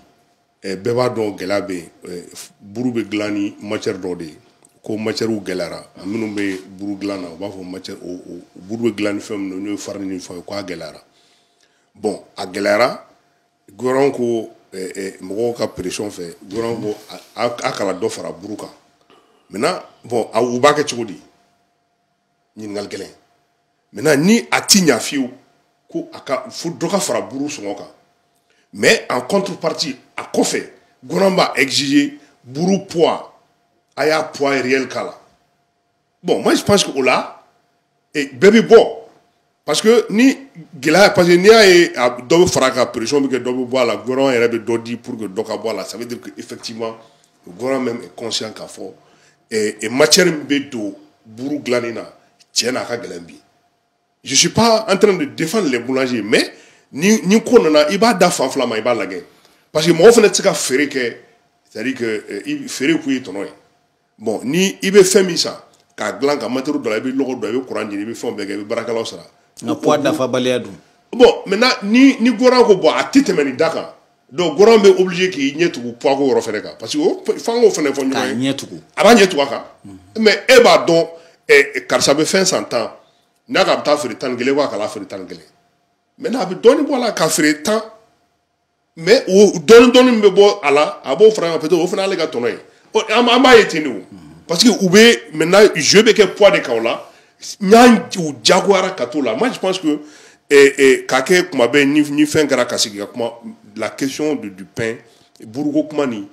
eh, bɛɛ b'a dɔn gɛlɛya bɛ yen eh, buru bɛ dilan ni matière dɔ de ye ko matières gɛlɛyara minnu bɛ buru dilan na u b'a fɔ matière o o buru bɛ dilan ni fɛn minnu n'o ye farine ni fɛnw ye k'a gɛlɛyara bon a gɛlɛyara gouvernement ko eh, eh, mɔgɔw ka pression fɛ gouvernement ko a kana dɔ fara buru kan maintenant bon a u b'a kɛ cogo di ɲininkali gɛlɛn maintenant ni a ti ɲa fiyewu ko a ka fo dɔ ka fara buru sɔngɔ kan mais en contrepartie a kɔfɛ gouvernement b'a exiger buru poids a y'a poids réel k'a la bon moi je pense que o la eh, bɛɛ bɛ bɔ parce que ni gɛlɛya parce que n'i y'a ye dɔ bɛ fara a kan pression bɛ kɛ dɔ bɛ bɔ a la gouvernement yɛrɛ bɛ dɔ di pour que dɔ ka bɔ a la ça veut dire que effectivement le gouvernement même est conscient k'a fɔ eh, eh, matière min bɛ don buru dilanni na tiɲɛ na a ka gɛlɛn bi je suis pas en train de défendre les boulangers mais ni ni ko nana i b'a da fan fila ma i b'a lagɛ parce que mɔgɔ fana tɛ se ka feere kɛ c'est à dire que eh, feere kun ye tɔnɔ ye. bon ni i bɛ fɛn min san k'a dilan ka matériel don a la i bɛ lɔgɔ don i bɛ kuran ɲini i bɛ fɛnw bɛɛ kɛ i bɛ baarakɛlaw sara nka poids dafabaliya dun bon maintenant ni ni gouvernement ko bon a tɛ tɛmɛ nin da kan donc gouvernement bɛ obligé k'i ɲɛ tugu poids ko yɔrɔ fɛnɛ kan parce que o f'an k'o fɛnɛ fɔ ɲɔgɔn ye ɲɛ tugu a b'a ɲɛ tugu a kan mais e b'a dɔn karisa bɛ fɛn san tan n'a ka bɛ taa feere tan ni kelen ko a kana feere tan ni kelen maintenant a bɛ dɔɔnin bɔ a la k'a feere tan mais o dɔɔni dɔɔni min bɛ bɔ a la a b'o fara kan peut-être o fana y'ale ka tɔnɔ ye an b'a ye ten de o parce que u bɛ maintenant jeu bɛ kɛ poids de kan o la yan u jagoyara ka t'o la moi je pense que eh, eh, k'a kɛ kuma bɛɛ ni ni fɛn kɛra ka sigi ka kuma la question de du pain buruko kuma ni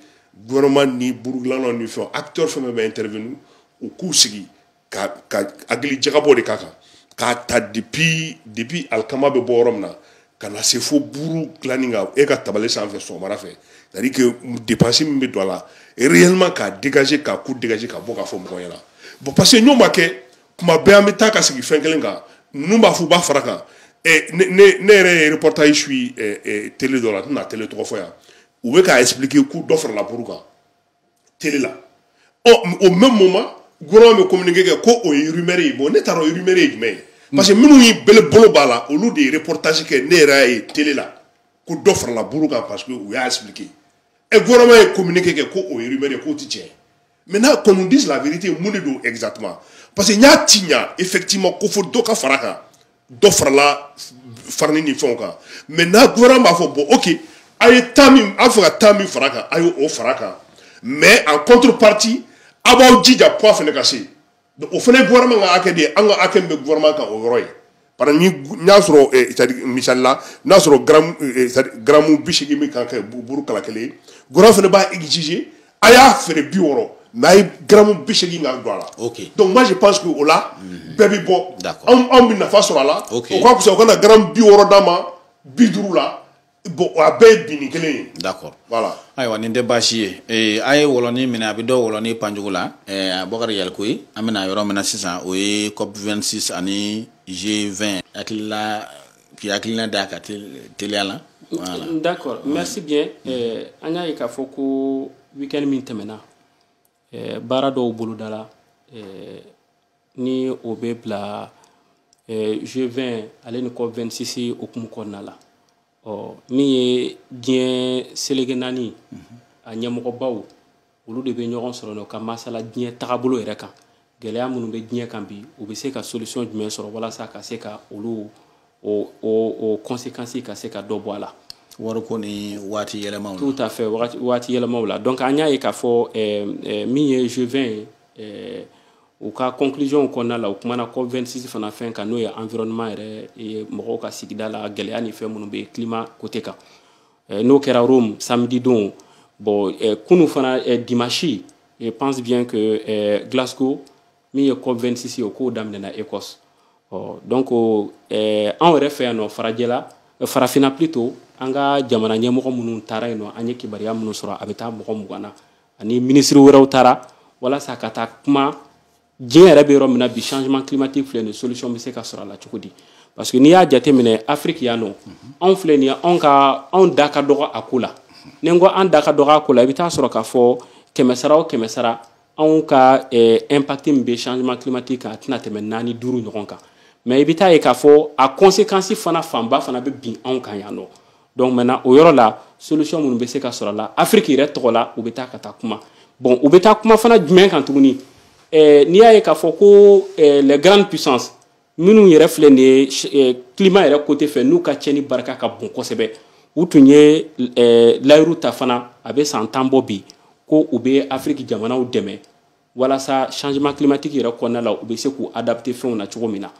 gouvernement ni burugilannaw ni fɛn acteur fɛn fɛn bɛ intervenir u k'u sigi ka ka hakili jagabɔ de k'a kan k'a ta depuis depuis alikama bɛ bɔ yɔrɔ min na ka na se fo buuru dilanni ka n'e ka tabali sanfɛ sɔgɔmada fɛ c'est à dire que dépense min bɛ don a la réellement k'a dégager k'a coût dégager ka bɔ k'a fɔ mɔgɔ ɲɛna bon parce que n'o ma kɛ kuma bɛɛ an bɛ taa ka sigi fɛn kelen kan ninnu b'a fɔ u b'a fara kan ɛ ne ne ne yɛrɛ ye reportage suit ɛ ɛ télé dɔ la n tɛna télé tɔgɔ fɔ yan u bɛ k'a expliquer ko dɔ farala buru kan. télé la ɔ au même moment gouvernement bɛ communiqué kɛ ko o ye rumeur ye bon ne t'a dɔn rumeur ye jumɛn ye parce que minnu y'i bele bolo b'a la olu de ye reportage kɛ ne yɛrɛ y'a ye télé la ko dɔ farala buru kan parce que u y'a expliqué ɛ gouvernement ye communiqué kɛ ko o ye rumeur ye k'o tɛ tiɲɛ ye maintenant qu'on nous dise la vérité mun de don exactement parce que n y'a tiɲa effectivement ko fo dɔ ka fara kan dɔ farala farani ni fɛnw kan maintenant gouvernement b'a fɔ bon ok a ye tan min a fɛ ka tan min fara kan a ye o fara kan mais en contrepartie a b'aw jija poids fana ka se o fana gouvernement ka hakɛ de ye an ka hakɛ min bɛ gouvernement kan o yɔrɔ ye parce que ni n y'a sɔrɔ eh, c'est à dire misali la n'a sɔrɔ gramu eh, c'est à dire gramu bi seegin min kan ka buru kala kelen ye gouvernement fana b'a exiger a y'a feere bi wɔɔrɔ mais a ye garamu bi seegin ka don a la donc moi je pense que o la mhm. bɛɛ bɛ bɔ anw bɛ nafa sɔrɔ a la o ka fisa u kana garamu bi wɔɔrɔ d'an ma bi duuru la bon a bɛɛ ye binni kelen ye. d'accord voilà. ayiwa nin tɛ baasi ye ee a ye wɔlɔni minɛ a bɛ dɔ wɔlɔni panjugu la ɛɛ bokari yalikoye an bɛna yɔrɔ min na sisan o ye cop 26 ani g 20 hakilila k'i hakilina d'a kan teliya la voilà. d'accord merci bien eh, an y'a ye k'a fɔ ko weekend min tɛmɛna eh, baara dɔw bolodala eh, ni o bɛ bila eh, g 20 ale ni cop 26 hukumu kɔnɔna la ɔ min ye diɲɛ selege naani a ɲɛmɔgɔbaw olu de bɛ ɲɔgɔn sɔrɔ ka masala diɲɛ tagabolo yɛrɛ kan gɛlɛya minnu bɛ diɲɛ kan bi u bɛ se ka solution jumɛn sɔrɔ walasa ka se ka olu o o conséquence ka se ka dɔ bɔ a la wariko ni waati yɛlɛmaw tout à fait waati yɛlɛmaw la donc an y'a ye k'a fɔ min ye g 20 ye u ka conclusion kɔnɔna la u kumana cop 26 fana fɛn kan n'o ye environnement yɛrɛ ye mɔgɔw ka sigida la gɛlɛya ni fɛn minnu bɛ climat côté kan Eh, n'o kɛra Rome samedi don bon eh, kunu fana eh, dimanche je pense bien que Glasgow min ye COP 26 ye o ko daminɛna Ecosse ɔ donc anw yɛrɛ fɛ yan nɔ farajɛla farafinna plutôt an ka jamana ɲɛmɔgɔ minnu taara yen nɔ an ye kibaruya minnu sɔrɔ a bɛ taa mɔgɔ mugan na ani minisiri wɛrɛw taara walasa ka taa kuma diɲɛ yɛrɛ bɛ yɔrɔ min na bi changement climatique filɛ nin solution bɛ se ka sɔrɔ a la cogo di parce que n'i y'a jateminɛ afiriki yan nɔ anw filɛ nin ye anw ka anw da ka dɔgɔ a ko la ni n ko an da ka dɔgɔ a ko la i bɛ taa sɔrɔ k'a fɔ kɛmɛ sara o kɛmɛ sara anw ka eh, impact min bɛ changement climatique kan a tɛna tɛmɛ naani duuru ɲɔgɔn kan mais i bɛ taa ye k'a fɔ a conséquence fana fanba fana bɛ bin anw kan yan nɔ donc maintenant o yɔrɔ la solution minnu bɛ se ka sɔrɔ a la afiriki yɛrɛ tɔgɔ la u bɛ taa ka taa kuma bon u bɛ taa kuma fana jumɛn kan tuguni eh, n'i y'a ye k'a fɔ ko eh, les grandes puissances minnu yɛrɛ filɛ nin ye eh, climat yɛrɛ côté fɛ n'u ka cɛni barika ka bon kosɛbɛ u tun ye eh, layiru ta fana a bɛ san tan bɔ bi ko u bɛ afiriki jamanaw dɛmɛ walasa changement climatique yɛrɛ kɔnɔna la u bɛ se k'u adapter fɛnw na cogo min na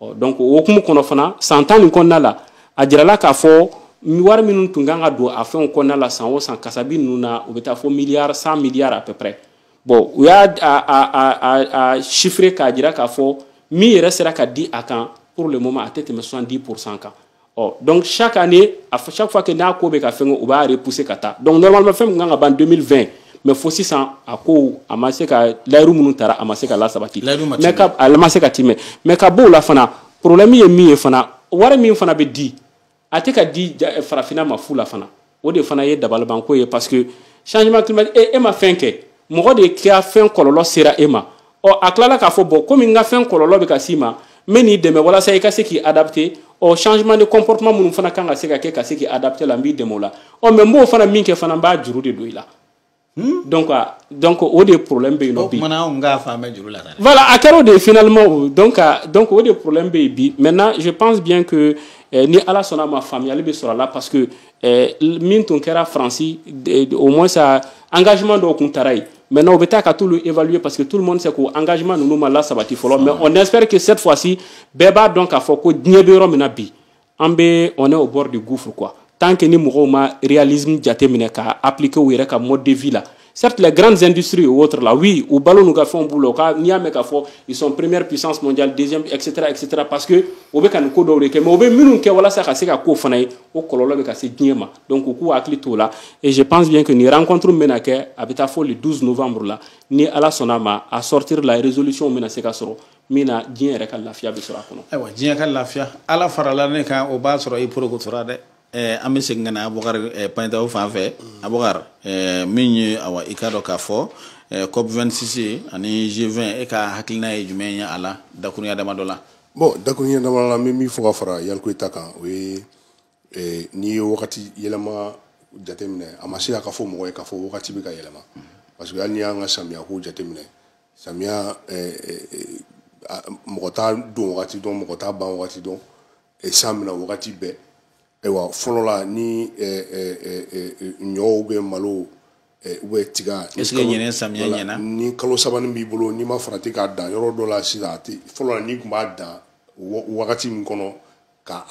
ɔ donc o hokumu kɔnɔ fana san tan nin kɔnɔna la a jirala k'a fɔ wari minnu tun kan ka don a fɛnw kɔnɔna la san o san kasabi ninnu na u bɛ taa fɔ miliyari 100 milliards à peu près bon u y'a a a a chiffré k'a jira k'a fɔ min yɛrɛ sera ka di a kan pour le moment a tɛ tɛmɛ 70 pourcent kan ɔ donc chaque année à chaque fois que n'a ko bɛ ka fɛn u b'a repousser ka taa donc normalement fɛn min kan ka ban 2020 mais fo sisan a ko a ma se ka layiru minnu tara a ma se ka lasabati mais a ma se ka timɛ mais ka b'o la fana problème ye min ye fana wari min fana bɛ di a tɛ ka di farafinna ma fu la fana o de fana ye dabalibanko ye parce que changement climatique e, e ma fɛn kɛ mɔgɔ de ka fɛn kɔlɔlɔ sera e ma ɔ a tilala k'a fɔ bon komi n ka fɛn kɔlɔlɔ bɛ ka s'i ma n bɛ n'i dɛmɛ walasa i ka se k'i adapter au changement de comportement minnu fana kan ka se ka kɛ ka se k'i adapter a la n b'i dɛmɛ o la ɔ mais n b'o fana min kɛ fana n b'a juru de don i la Hmm? donc ah, donc o de problème bɛ yen nɔ bi. o kumana anw k'a faamu juru la dɛ. voilà a kɛra o de ye finalement o donc ah, donc o de problème bɛ yen bi maintenant je pense bien que eh, ni ala sɔnna a ma faamuyali bɛ sɔrɔ a la parce que eh, min tun kɛra faransi eh, au moins sa engagement dɔw tun tara yen. Maintenant, u bɛ taa ka t'olu évaluer parce que tout le monde sait que engagement ninnu ma lasabati fɔlɔ mais on espère que cette fois-ci, bɛɛ b'a dɔn k'a fɔ ko diɲɛ bɛ yɔrɔ min na bi. an bɛ on est au bord du gouffre quoi tant que ni mɔgɔw ma réalisme jateminɛ k'a appliquer u yɛrɛ ka mode de vie la certes les grandes industries ou autres là oui u balo n'u ka fɛnw b'u la u ka n'i y'a mɛn k'a fɔ ils sont première puissance mondiale deuxième etc etc parce que u bɛ ka nin ko dɔw de kɛ mais u bɛ minnu kɛ walasa ka se ka k'o fana ye o kɔlɔlɔ bɛ ka se diɲɛ ma donc u k'u hakili t'o la et je pense bien que nin rencontre min bɛna kɛ a bɛ taa fɔ le 12 novembre la ni ala sɔnna a ma a sortir la résolution bɛna se ka sɔrɔ min na diɲɛ yɛrɛ ka lafiya bɛ sɔrɔ a kɔnɔ ayiwa diɲɛ ka lafiya ala farala ne kan o b'a sɔrɔ i porokotora dɛ eh, an bɛ segin ka na abubakar eh, payitaw fan fɛ abubakar eh, min ye awa i k'a dɔn k'a fɔ eh, cop 26 ani g 20 e ka hakilina ye jumɛn ye a la dakurunya dama dɔ la bon dakurunya dama la n bɛ min fɔ ka fara yalikoyi ta kan o ye eh, n'i ye wagati yɛlɛma jateminɛ a ma se a ka fɔ mɔgɔ ye k'a fɔ wagati bɛ ka yɛlɛma parce que hali n'i y'an ka samiyako jateminɛ samiya mɔgɔ t'a don wagati dɔn mɔgɔ t'a ban wagati dɔn san bɛ na wagati bɛɛ ayiwa fɔlɔ la ni ɲɔw bɛ malo u bɛ tiga ni kalo sabani b'i bolo n'i ma farati k'a dan yɔrɔ dɔ la sisan fɔlɔ la n'i tun b'a dan wagati min kɔnɔ ka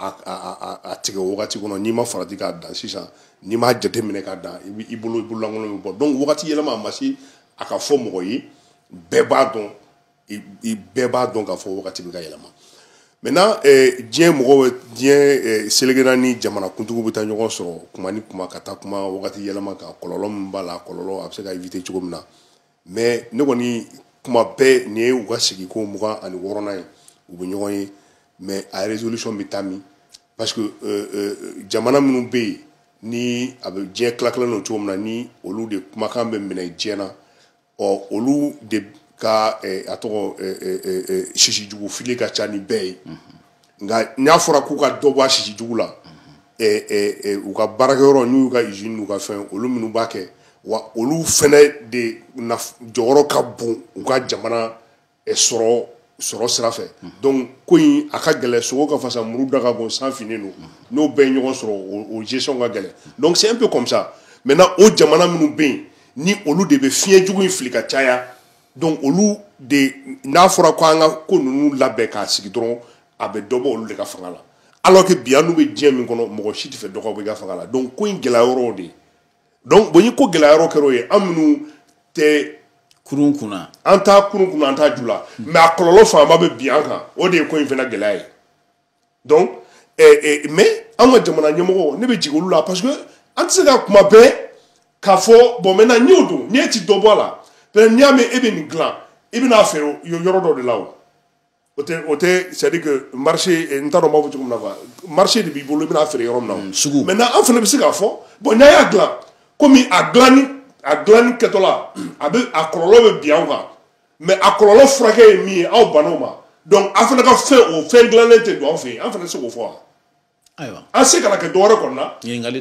a tigɛ o wagati kɔnɔ n'i ma farati k'a dan sisan n'i m'a jateminɛ k'a dan i b'i bolo bololankolon bɛ bɔ donc wagati yɛlɛma a ma se a ka fɔ mɔgɔ ye bɛɛ b'a dɔn i bɛɛ b'a dɔn k'a fɔ wagati bɛ ka yɛlɛma maintenant eh, diɲɛ mɔgɔw diɲɛ eh, seleke naani jamana kuntigiw bɛ taa ɲɔgɔn sɔrɔ tuma ni tuma ka taa kuma wagati yɛlɛma kan kɔlɔlɔ min b'a la kɔlɔlɔ a bɛ se ka éviter cogo min na mais ne kɔni tuma bɛɛ nin ye u ka sigi ko mugan ani wɔɔrɔnan ye u bɛ ɲɔgɔn ye mais a résolution bɛ taa min parce que euh, euh, jamana minnu bɛ yen ni a bɛ diɲɛ tilatilalen don cogo min na ni olu de kumakan bɛ minɛ diɲɛ na ɔ olu de ka eh, a tɔgɔ eh, eh, sisi jugu fili ka ca ni bɛɛ ye nka n'a fɔra k'u ka dɔ bɔ a sisi jugu la u ka baarakɛyɔrɔ n'u y'u ka usine n'u ka fɛn olu minnu b'a kɛ wa olu fana de jɔyɔrɔ ka bon u ka jamana sɔrɔ sɔrɔ sira fɛ donc ko in a ka gɛlɛn sogo ka fasa muru da ka bon san finnen don n'o bɛɛ ye ɲɔgɔn sɔrɔ o gestion ka gɛlɛn donc c'est un peu comme ça maintenant o jamana minnu bɛ yen ni olu de bɛ fiɲɛ jugu in fili ka caya donc olu de n'a fɔra ko an ka ko ninnu labɛn k'a sigi dɔrɔn a bɛ dɔ bɔ olu de ka fanga la alors que bi an n'u bɛ diɲɛ min kɔnɔ mɔgɔ si t'a fɛ dɔ ka bɔ a ka fanga la donc ko in gɛlɛya yɔrɔ de ye donc bon ni ko gɛlɛya yɔrɔ kɛra o ye an minnu tɛ kurun kunna an t'a kurun kunna an t'a ju la mais a kɔlɔlɔ fanba bɛ bin an kan o de ye ko in fana gɛlɛya ye donc eh, eh, mais an ka jamana ɲɛmɔgɔ ne bɛ jigin olu la parce que an tɛ se ka kuma bɛɛ k'a fɔ bon maintenant n y'o dɔn n'e ti dɔ bɔ a la peut-être n'i y'a mɛn e bɛ nin dilan i bɛ n'a feere yɔrɔ dɔ de la o o tɛ o tɛ c'est à dire que marché eh, n t'a dɔn n b'a fɔ cogo min na quoi marché de b'i bolo i bɛna feere yɔrɔ min na o mm, sugu maintenant an fana bɛ se k'a fɔ bon n'a y'a dilan komi a dilanni a dilanni kɛtɔla a bɛ a kɔlɔlɔ bɛ bin an kan mais a kɔlɔlɔ furakɛ ye min ye aw banna o ma donc a fana ka fɛn o fɛn dilannen tɛ don an fɛ yen an fana se k'o fɔ wa ayiwa an se kana kɛ dɔwɛrɛ kɔni na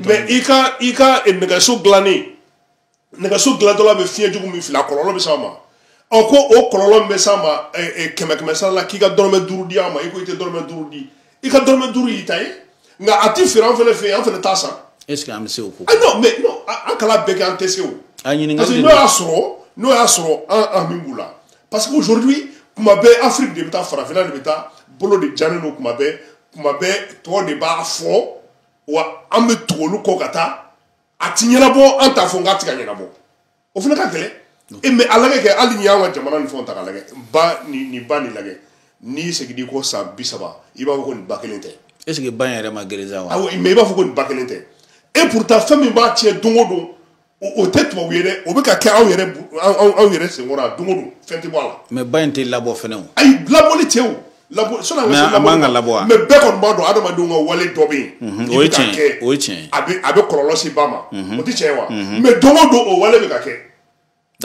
mais i ka i ka eh, nɛgɛso dilannen nɛgɛso dilantɔla bɛ fiɲɛ jugu min fili a kɔlɔlɔ bɛ s'an ma ɔ ko o kɔlɔlɔ min bɛ s'an ma eh, eh, kɛmɛ kɛmɛ sara la k'i ka dɔrɔmɛ duuru di an ma i ko i tɛ dɔrɔmɛ duuru di i ka dɔrɔmɛ duuru y'i ta ye nka a ti feere an fɛnɛ fɛ yen an fɛnɛ t'a san est ce que an bɛ se o ko ah non mais non an k'a labɛn kɛ an tɛ se o a ɲininkali parce que n'o y'a sɔrɔ n'o y'a sɔrɔ an an min b'u la parce que aujourd'hui kuma bɛɛ afiriki de bɛ taa farafinna de bɛ taa bolo de jannen don kuma bɛɛ kuma bɛɛ tɔw de b'a fɔ wa an bɛ tugu olu kɔ ka taa a ti ɲɛnabɔ an t'a fɔ nka a ti ka ɲɛnabɔ o fana ka gɛlɛn e mais a lagɛ kɛ hali n'i y'an ka jamana nin fɛnw ta k'a lagɛ ba nin ba nin lagɛ n'i seginn'i kɔ san bi saba i b'a fɔ ko nin ba kelen tɛ est ce que ba in yɛrɛ ma geren sa wa awɔ mais i b'a fɔ ko nin ba kelen tɛ et pourtant fɛn min b'a tiɲɛ don o don o tɛ tubabu ye dɛ o bɛ ka kɛ anw yɛrɛ anw yɛrɛ senkɔrɔ yan don o don fɛn tɛ bɔ a la mais ba in tɛ labɔ fɛnɛ o ayi labɔli tɛ o labɔ sɔnni an ka se labɔ man ka labɔ wa mais bɛɛ kɔni b'a dɔn adamadenw ka wale dɔ bɛ yen mhm, o ye tiɲɛ ye o ye tiɲɛ ye a bɛ a bɛ kɔlɔlɔ se ba ma mhm. o tɛ tiɲɛ ye wa mhm. mais don o don o wale bɛ ka kɛ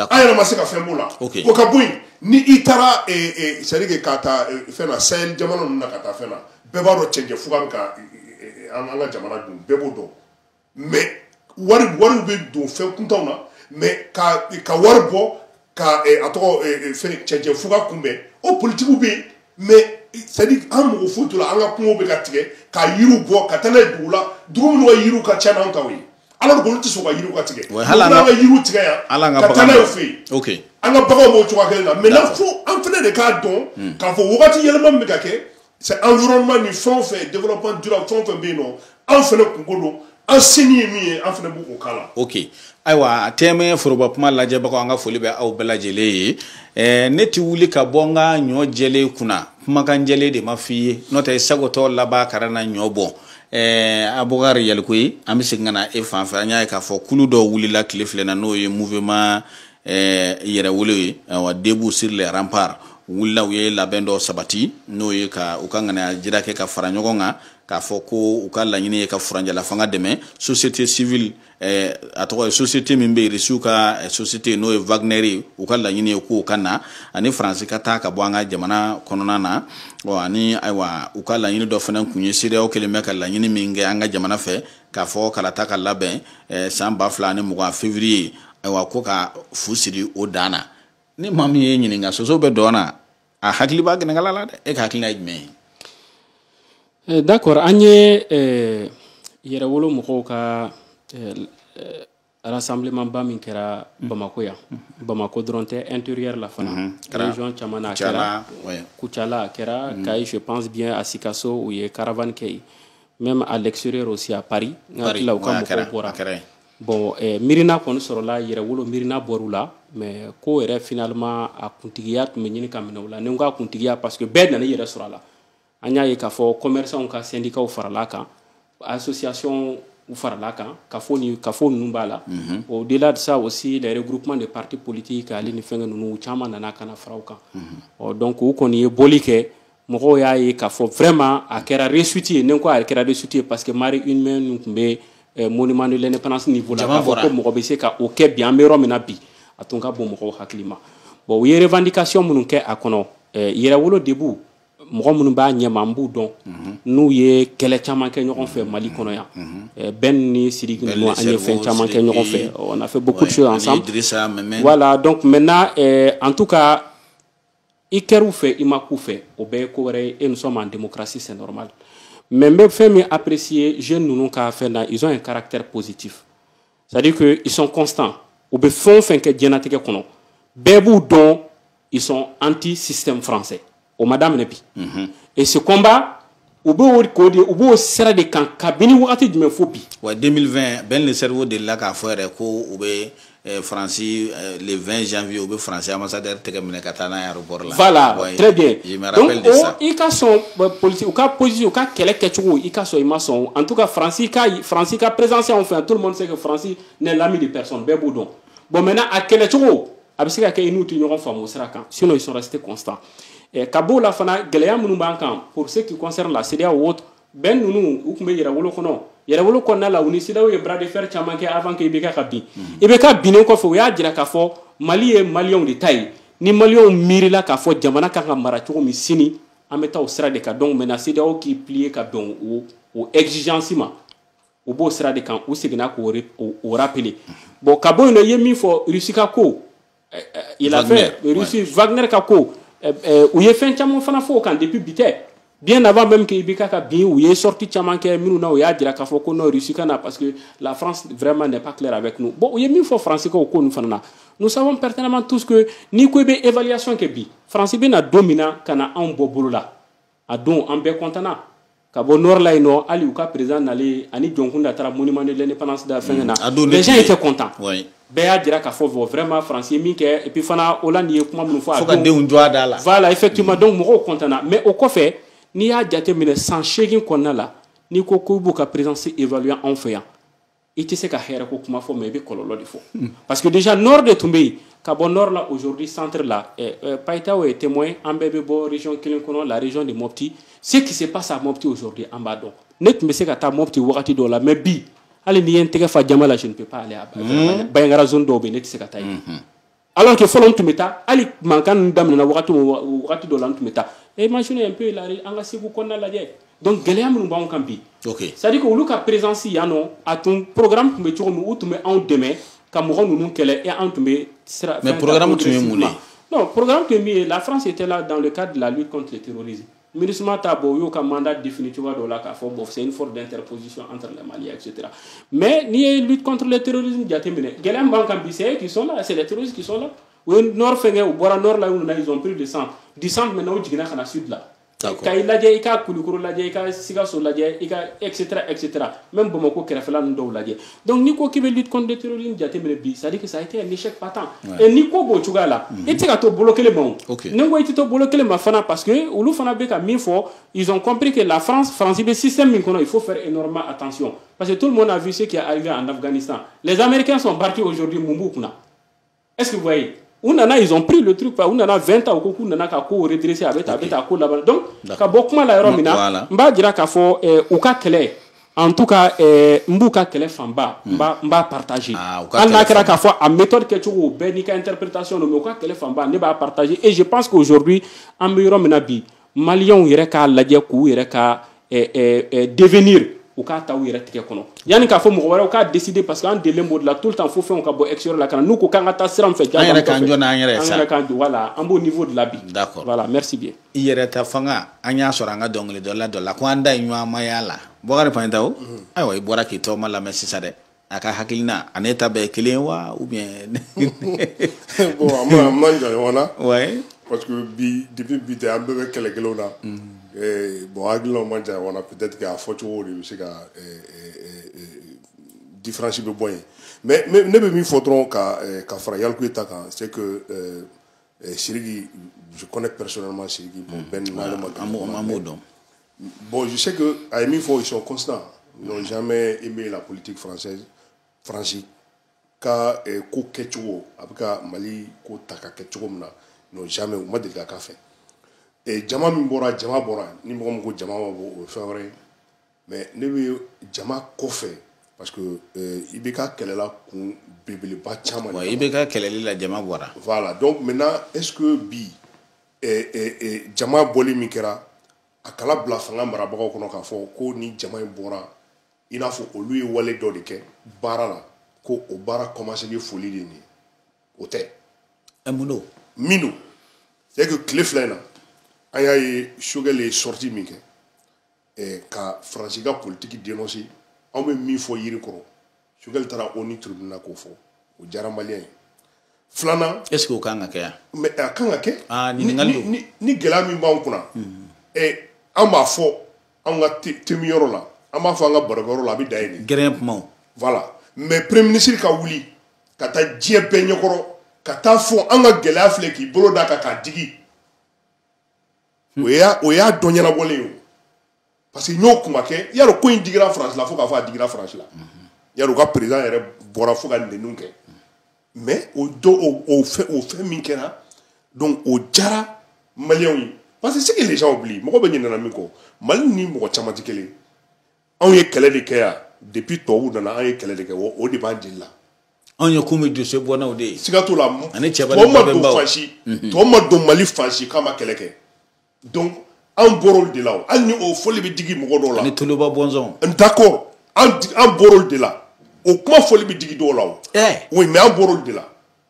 an yɛrɛ ma se ka fɛn b'o la o ka bɔ yen ni i taara eh, eh, c'est à dire que ka taa eh, fɛn na sahel jamana ninnu na ka taa fɛn na bɛɛ b'a dɔn cɛncɛn fuga bɛ ka an ka jamana dun bɛɛ b'o dɔn mais wari wariw bɛ don fɛn kuntanw na mais ka ka wari bɔ ka a tɔgɔ fɛn cɛncɛn fuga kunbɛn o politigiw bɛ yen mais c'est à dire an mɔgɔ foyi t'o la an ka kungo bɛ ka tigɛ ka yiriw bɔ ka taa n'a ye dugu la dugu minnu ka yiriw ka ca n'an taw ye alors que olu tɛ sɔn ka yiriw ka tigɛ hali an ka yiriw tigɛ yan ka taa n'a y'u fɛ yen an ka baganw b'o cogoya kelen na maintenant fo an fana de k'a dɔn k'a fɔ wagati yɛlɛma min bɛ ka kɛ c'est environnement ni fɛn o fɛn développement durable fɛn o fɛn bɛ yen nɔ an fana kunko don an senin ye min ye an fana b'o k'a la. ok ayiwa TM1 foroba kuma lajɛbagaw an ka foli bɛ aw bɛɛ lajɛlen ye ɛɛ ne ti wuli ka bɔ n ka ɲɔ jɛlen kunna kumakan jɛlen de ma f'i ye n'o tɛ sagotɔ laban kara na ɲɔ bɔ. Eh, abubakari yalikoyi an bɛ segin ka na e fan fɛ an y'a ye k'a fɔ kulu dɔw wulila tile fila in na n'o ye mouvement ɛɛ yɛrɛwolo ye ayiwa debout sur les remparts wulila u ye labɛn dɔ sabati n'o ye ka u ka ŋaniya jira kɛ ka fara ɲɔgɔn kan k'a fɔ ko u ka laɲini ye ka furancɛlafanga dɛmɛ société civile eh, a tɔgɔ ye société min bɛ risiw ka eh, société n'o ye wagner ye u ka laɲini ye k'o ka na ani faransi ka taa ka bɔ an ka jamana kɔnɔna na ɔ ani ayiwa u ka laɲini dɔ fana kun ye CEDEAO kɛlen bɛ ka laɲini min kɛ an ka jamana fɛ k'a fɔ kalata ka labɛn eh, san ba fila ni mugan fevriye ayiwa ko ka fu siri o dan na ni maa min y'i ɲininka soso bɛ dɔn na a hakili b'a gɛnɛkala la dɛ e ka hakilina ye jumɛn ye eh, d'accord an ye eh, yɛrɛwolo mɔgɔw ka rassemblementba min kɛra Bamako yan Bamako dɔrɔn tɛ intérieur la fana mhm. région caman na a kɛra Kucala a kɛra mhm. Kayi je pense bien à Sikasso u ye caravane kɛ yen même à l'extérieur aussi à Paris n hakili la u ka mɔgɔw bɔra bon eh, miirina kɔni sɔrɔla yɛrɛwolo miirina bɔr'u la mais ko yɛrɛ finalement a kuntigiya tun bɛ ɲini ka minɛ u la ni n ko a kuntigiya parce que bɛɛ nana i yɛrɛ sɔrɔ a la an y'a ye k'a fɔ commerçantw ka syndicats farala kan associationw farala kan kafo ni kafo ninnu b'a la mhm. au delà de ça aussi les regroupements de partis politiques ale ni fɛngɛ ninnu u caman nana ka na fara u kan mhm. ɔ donc u kɔni ye bɔli kɛ mɔgɔw y'a ye k'a fɔ vraiment a kɛra réussite ye ni n ko a kɛra réussite ye parce que marée humaine ninnu tun bɛ eh, monument de l'indépendance niveau la k'a fɔ ko mɔgɔ bɛ se ka o kɛ bi an bɛ yɔrɔ min na bi a tun ka bon mɔgɔw hakili ma bon u ye revendication minnu kɛ a kɔnɔ eh, yɛrɛwolo debout mɔgɔ minnu b'a ɲɛma n b'u dɔn mhm. n'u ye kɛlɛ caman kɛ ɲɔgɔn fɛ Mali kɔnɔ yan mhm. eh, Ben ni Siriki ninnu an ye fɛn caman kɛ ɲɔgɔn fɛ on a fait beaucoup de choses ensemble voilà donc maintenant eh, en tout cas i kɛr'u fɛ i ma k'u fɛ o bɛɛ ye ko wɛrɛ ye et nous sommes en démocratie c'est normal mais n bɛ fɛn min apprécier jeunes ninnu ka fɛn na ils ont un caractère positif c'est à dire que ils sont constants u bɛ fɛn o fɛn kɛ diɲɛnatigɛ kɔnɔ bɛɛ b'u dɔn ils sont anti système français o ma daminɛ bi mhm. et ce combat u b'o k'o de u b'o sira de kan kabini wagati jumɛn fo bi. wa 2020 Ben le cerveau delila k'a fɔ yɛrɛ ko u bɛ eh, faransi eh, le 20 janvier u bɛ faransi ambassadeur tɛgɛ minɛ ka taa n'a ye i ka sɔn poli u ka psi u ka kɛlɛ kɛcogo i ka sɔn i ma sɔn an ka faransi ka faransi ka perezsi fɛ yan to ma se ka faransi ne lammi de psɔn bɛɛ b'u dɔn bɔn mɛ a kɛlɛcogo a bɛ se ka kɛ i n'u tɛ ɲɔgɔn faamu sira kan sin sɔrɔ se tɛ kɔsan ka b'o la fana gɛlɛya minnu b'a kan p se k'i kɔnɛ la seya wo Ben ninnu u tun bɛ yɛrɛwolo kɔnɔ yɛrɛwolo kɔnɔna la u ni CEDEAO ye bras de fer caman kɛ avant que IBK ka bin mhm. IBK binnen kɔfɛ u y'a jira k'a fɔ Mali ye maliyɛnw de ta ye ni maliyɛnw miirila k'a fɔ jamana kan ka mara cogo min sini an bɛ taa o sira de kan donc maintenant CEDEAO k'i plier ka bɛn o o exigence ma u b'o sira de kan u seginna k'o o rappeler bon ka bɔ yen nɔ i ye min fɔ Russie ka ko eh, eh, l'affaire Russie Wagner ka ko eh, u ye fɛn caman fana fɔ o kan depuis bi tɛ bien avant même que IBK ka bin u ye sortie caman kɛ minnu na u y'a jira k'a fɔ ko non Russie ka na parce que la France vraiment n'est pas claire avec nous bon u ye min fɔ France ka o ko ninnu fana na nous savons pertinemment tous que n'i ko i bɛ évaluation kɛ bi France bɛ na don min na ka na anw bɔ bolo la a don an bɛɛ kɔntana ka bɔ nɔrɔ la yen nɔ hali u ka perezan nalen ani jɔnkun da taara muni manden lɛn panansi da fɛn na bɛn ye tɛ kɔntan bɛɛ y'a jira k'a fɔ fɔ fɛrɛma faransi min kɛ ipi fana o la nin ye kuma minnu fɔ a ka denw jɔ da la fa la i fɛ tuma dɔn mɔgɔw kɔntana mɛ o kɔfɛ n'i y'a jate minɛ san seegin kɔnɔna la n'i ko ko b'u ka perezsi efaluya anw fɛ yan i tɛ se ka hɛrɛ ko kuma fɔ mais i bɛ kɔlɔlɔ de fɔ hmm. parce que déjà nord de tun bɛ yen ka bɔ nord la aujourd'hui centre la eh, eh, payitaw ye témoin an bɛɛ bɛ bɔ région kelen kɔnɔ la région de mopti ce qui se passe à mopti aujourd'hui an b'a dɔn ne tun bɛ se ka taa mopti wagati dɔw la mais bi hali n'i ye n tɛgɛ fa jaman la je ne peux pas aller à hmm. bandiagara zone dɔw bɛ yen ne tɛ se ka taa yen hmm, alors que fɔlɔ n tun bɛ taa hali mankan ninnu daminɛna wagati o wagati dɔ la n tun bɛ taa imaginez un peu hali an ka segu kɔnɔna lajɛ donc gɛlɛya minnu b'anw kan bi okay. c'est à dire que olu ka présence yan nɔ a tun programme tun bɛ cogo min u tun bɛ anw dɛmɛ ka mɔgɔ ninnu kɛlɛ et anw tun bɛ sira mais programme tun ye mun ye non programme tun ye min ye la france était là dans le cadre de la lutte contre le terrorisme Minusma ta bon u y'u ka mandat défini cogoya dɔ la k'a fɔ bon c'est une force d'interposition entre les Maliens etc. Mais n'i ye lutte contre le terrorisme jateminɛ gɛlɛya min b'an kan bi c'est eux qui sont là c'est les terroristes qui sont là u ye nord fɛnkɛ u bɔra nord la u nana ils ont pris le centre du centre maintenant u jiginna ka na sud la kayi lajɛ i ka kulukɔrɔ lajɛ i ka sikaso lajɛ i ka etc etc même bamakɔ kɛrɛfɛla ninnu dɔw lajɛ donc n'i ko k'i bɛ lutte contre le terrorisme jateminɛ bi c'est à dire que ça a été un échec patent et ni ko b'o cogoya la i tɛ se ka to bolo kelen ma o n'i ko i tɛ to bolo kelen ma fana parce que olu fana bɛ ka min fɔ ils ont compris que la France France bɛ système min kɔnɔ il faut faire énormément attention parce que tout le monde a vu ce qui est arrivé en Afghanistan les Américains sont partis aujourd'hui mun b'u kunna est-ce que vous voyez u nana ils ont pris le truc pa u nana 20 ans u ko k'u nana ka ko redresser a bɛ taa a bɛ taa ko laban donc ka bɔ kuma la yɔrɔ min na n b'a jira k'a fɔ eh, u ka kɛlɛ en tout cas eh, n b'u ka kɛlɛ fanba n b'a n b'a partager ah, hali n'a kɛra k'a fɔ a méthode kɛcogo bɛɛ n'i ka interprétation don mais u ka kɛlɛ fanba ne b'a partager et je pense qu'aujourd'hui an bɛ yɔrɔ min na bi maliyɛnw yɛrɛ k'a lajɛ k'u yɛrɛ ka eh, eh, eh, devenir u k'a ta u yɛrɛ tigɛ kɔnɔ yanni k'a fɔ mɔgɔ wɛrɛw k'a décider parce que an delen b'o de la tout le temps fo fɛnw ka bɔ extérieur la ka na n'u ko k'an ka taa sira min fɛ an yɛrɛ k'an jɔ n'an yɛrɛ ye sa an yɛrɛ k'an jɔ voilà an b'o niveau de la bi d'accord voilà merci bien i yɛrɛ ta fanga an y'a sɔrɔ an ka dɔnkilidala dɔ la ko an da ye ɲɔgɔnmaya la bɔkari paɲɛtaw ayiwa i bɔra k'i tɔgɔma lamɛn sisan dɛ a ka hakilina a n'e ta bɛɛ kelen wa ou bien bon a ma a man jan ɲɔgɔn na ouais parce que bi depuis bi tɛ an bɛɛ bɛ kɛlɛ kelenw na mm. eh, bon hakilinaw man jan ɲɔgɔn na peut être que a fɔcogo de bɛ se ka eh, eh, eh, différence bɛ bɔ yen mais ne bɛ min fɔ dɔrɔn ka eh, ka fara yalikuye ta kan c'est que eh, eh, siriki je connais personnellement siriki bon mm. Ben ne n'ale ma ɲɔgɔn dɔn Bon, je sais que a ye min fɔ, ils sont constants. Ils n'ont jamais aimé la politique française, Faransi ka eh, ko kɛcogo a bɛ ka mali ko ta ka kɛ cogo min na n'ont jamais u ma deli ka k'a fɛ eh, jama min bɔra jama bɔra ni mɔgɔ min ko jama ma bɔ o ye fɛn wɛrɛ ye mais ne bɛ jama kɔfɛ parce que eh, IBK kɛlɛla kun belebeleba caman IBK kɛlɛli la jama bɔra voilà donc maintenant est ce que bi jama bɔli min kɛra a kana bila fanga marabagaw kɔnɔ k'a fɔ ko ni jama in bɔra i n'a fɔ olu ye wale dɔ de kɛ baara la ko o baara kɔmanselen foli de nin o tɛ mun don min don c'est que tile fila in na an y'a ye choguel ye sortie min kɛ eh, ka faransi ka politiki denonse anw bɛ min fɔ yiri kɔrɔ choguel taara onu tribunal na k'o fɔ o diyara maliyɛn ye filanan est ce que o kan ka kɛ yan mais a kan ka kɛ ah, ni gɛlɛya min b'anw kunna hmm. eh, an b'a fɔ anw ka teminyɔrɔ la an b'a fɔ an ka barokɛyɔrɔ la a bɛ dan yen de gɛrɛn kumaw voilà mais premier ministre ka wuli ka taa diɲɛ bɛɛ ɲɛkɔrɔ ka taa fɔ an ka gɛlɛya filɛ k'i bolo d'a kan k'a digi o y'a o y'a dɔ ɲɛnabɔlen ye parce que n y'o kuma kɛ y'a dɔn ko in digira faransi la fo k'a fɔ a digira faransi la y'a dɔn u ka président yɛrɛ bɔra fo ka nɛniw kɛ mais o dɔ o o fɛn o fɛn min kɛra donc o diyara maliyɛnw ye parce que ce que les gens oublient mɔgɔ bɛ ɲinɛna min kɔ mali ni mɔgɔ caman tɛ kelen ye anw ye kɛlɛ de kɛ yan depuis tubabuw nana an ye kɛlɛ de kɛ wa o de b'an jeli la anw ye kumi jɔsɛ bɔnnaw de ye siga t'o la ani cɛba tubabu ma don fansi mhm. tubabu ma don mali fansi k'a ma kɛlɛ kɛ donc an bɔr'olu de la o hali ni o fɔli bɛ digi mɔgɔ dɔw la ani toloba bɔnsɔn d'accord an bɔr'olu de la o kuma fɔli bɛ digi dɔw la o eh. oui mais an bɔr'olu de la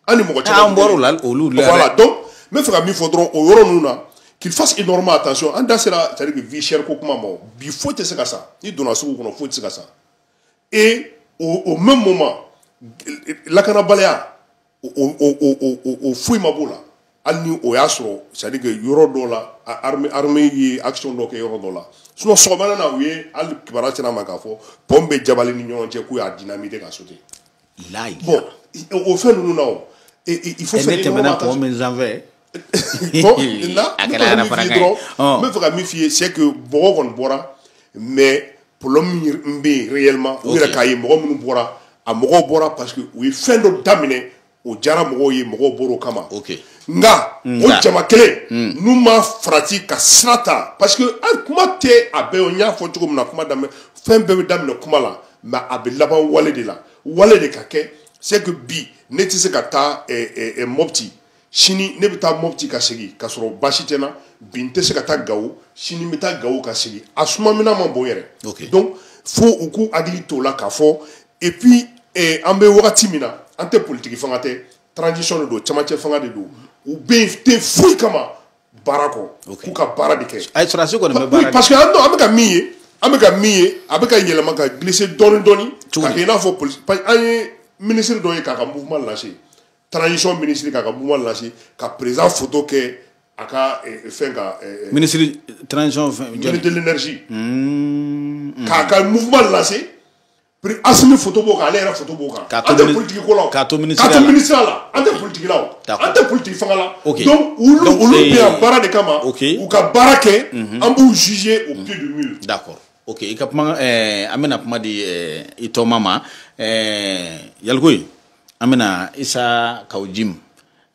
an ni mɔgɔ caman an bɔr'o la olu la voilà donc n bɛ fɛ ka min fɔ dɔrɔn o yɔrɔ ninnu na qu'il fasse énormément attention an da sera c'est à dire que vie chère ko kuma ma o bi foyi tɛ se ka san n'i donna sugu kɔnɔ foyi tɛ se ka san et au, au même moment lakanabaliya o o o o o foyi ma b'o la hali ni o y'a sɔrɔ c'est à dire que yɔrɔ dɔ la armée armée ye action dɔ kɛ yɔrɔ dɔ la sinon sɔgɔmada na u ye hali kibaruya sera an ma k'a fɔ pɔn bɛ jabali ni ɲɔnɔn cɛ k'u y'a dynamiter ka sauter layi bon o fɛn ninnu na o il faut faire énormément attention bon là a kɛra yɛrɛ fana kan n bɛ fɛ ka min f'i ye c'est que mɔgɔ kɔni bɔra mais problème min bɛ yen réellement u yɛrɛ k'a ye mɔgɔ minnu bɔra a mɔgɔw bɔra parce que u ye fɛn dɔ daminɛ o diyara mɔgɔw ye mɔgɔw bɔr'o kama nka o jama kelen n'u ma farati ka sira ta parce que an kuma tɛ a bɛɛ o n y'a fɔ cogo min na kuma daminɛ fɛn bɛɛ bɛ daminɛ kuma la mais a bɛ laban wale de la wale de ka kɛ c'est que bi ne tɛ se ka taa eh, eh, eh, mɔpti sini ne bɛ taa mɔpti ka segin ka sɔrɔ baasi tɛ n na bi n tɛ se ka taa gawo sini n bɛ taa gawo ka segin a suma mina ma bon yɛrɛ okay. donc fo u k'u hakili t'o la k'a fɔ et puis eh, an bɛ wagati min na an tɛ politiki fanga tɛ transition de don camancɛ fanga de don u bɛ yen tɛ foyi kama baara kɔ k'u ka baara de kɛ ayi sɔrɔdasi kɔni bɛ baara kɛ parce que an bɛ ka min ye an bɛ ka min ye a bɛ ka yɛlɛma ka glisser dɔɔni dɔɔni ka kɛ i n'a fɔ polisi parce que an ye minisiri dɔ ye k'a ka mouvement lancer transition minisiri k'a ka mouvement lancer ka président photo kɛ a ka eh, fɛn ka eh, eh, minisiri transition fɛn ministre de l'énergie hmm, hmm. k'a ka mouvement lancer pri asimi foto b'o kan ale yɛrɛ foto b'o kan an tɛ politiki ko la k'a to minisiriya la k'a to minisiriya la an tɛ politiki la o an tɛ politiki fanga la donc olu olu bɛ yan baara de kama u ka baara kɛ an b'u juger au pied du mur d'accord ok i ka kuma eh, an bɛna kuma di eh, i tɔma ma eh, yalikoyi an bɛna isa kaw jim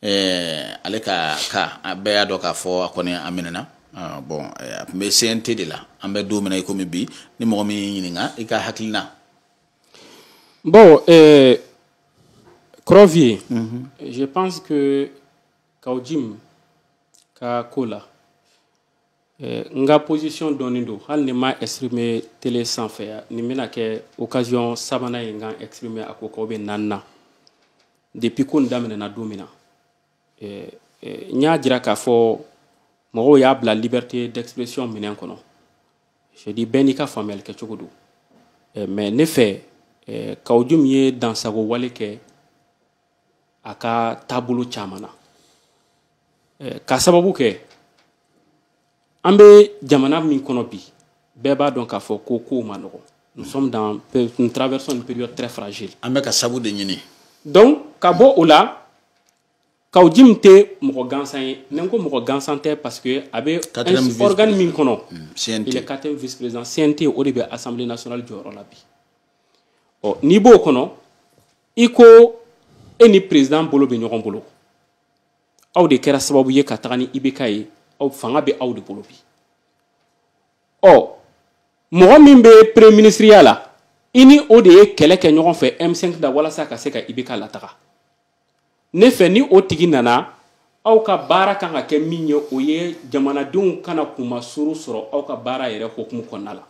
ɛɛ ale ka cas a bɛɛ y'a dɔn k'a fɔ a kɔni a minɛna bon a tun bɛ cnt de la an bɛ don min na i komi bi ni mɔgɔ min y'i ɲininka i ka hakilina bon euh, Crovier mm -hmm. je pense que kaw jim ka ko la Eh, n ka position dɔnnen don hali ni ma exprimer télé sanfɛ nin bɛna kɛ occasion sabanan ye n ka exprimer a ko k'aw bɛ naani na depuis ko nin daminɛna don min na eh, eh, n y'a jira k'a fɔ mɔgɔw y'a bila liberté d'expression minɛn kɔnɔ je dis bɛɛ n'i ka faamuyali kɛcogo don mais ne fɛ kaw jim ye dansago wale kɛ a ka taabolo caman na ka sababu kɛ an bɛ jamana min kɔnɔ bi bɛɛ b'a dɔn k'a fɔ ko kow man nɔgɔn nous sommes dans nous traversons une période très fragile an bɛ ka sabu de ɲini donc ka bɔ o la kaw jim tɛ mɔgɔ gansan ye ni n ko mɔgɔ gansan tɛ parce que a bɛ organe min kɔnɔ mm, il est quatrième vice président CNT o de bɛ assemblée nationale jɔyɔrɔ la bi ɔ n'i b'o kɔnɔ i ko e ni president bolo bɛ ɲɔgɔn bolo aw de kɛra sababu ye ka taga ni ibk ye aw fanga bɛ aw de bolo bi ɔ mɔgɔ min bɛ premier ministriya la i ni o de ye kɛlɛ kɛ ɲɔgɔn fɛ m5 la walasa ka se ka ibk lataga ne fɛ ni o tigi nana aw ka baara kan ka kɛ min ye o ye jamanadenw kana kunmasuru sɔrɔ aw ka baara yɛrɛ hokumu kɔnɔna la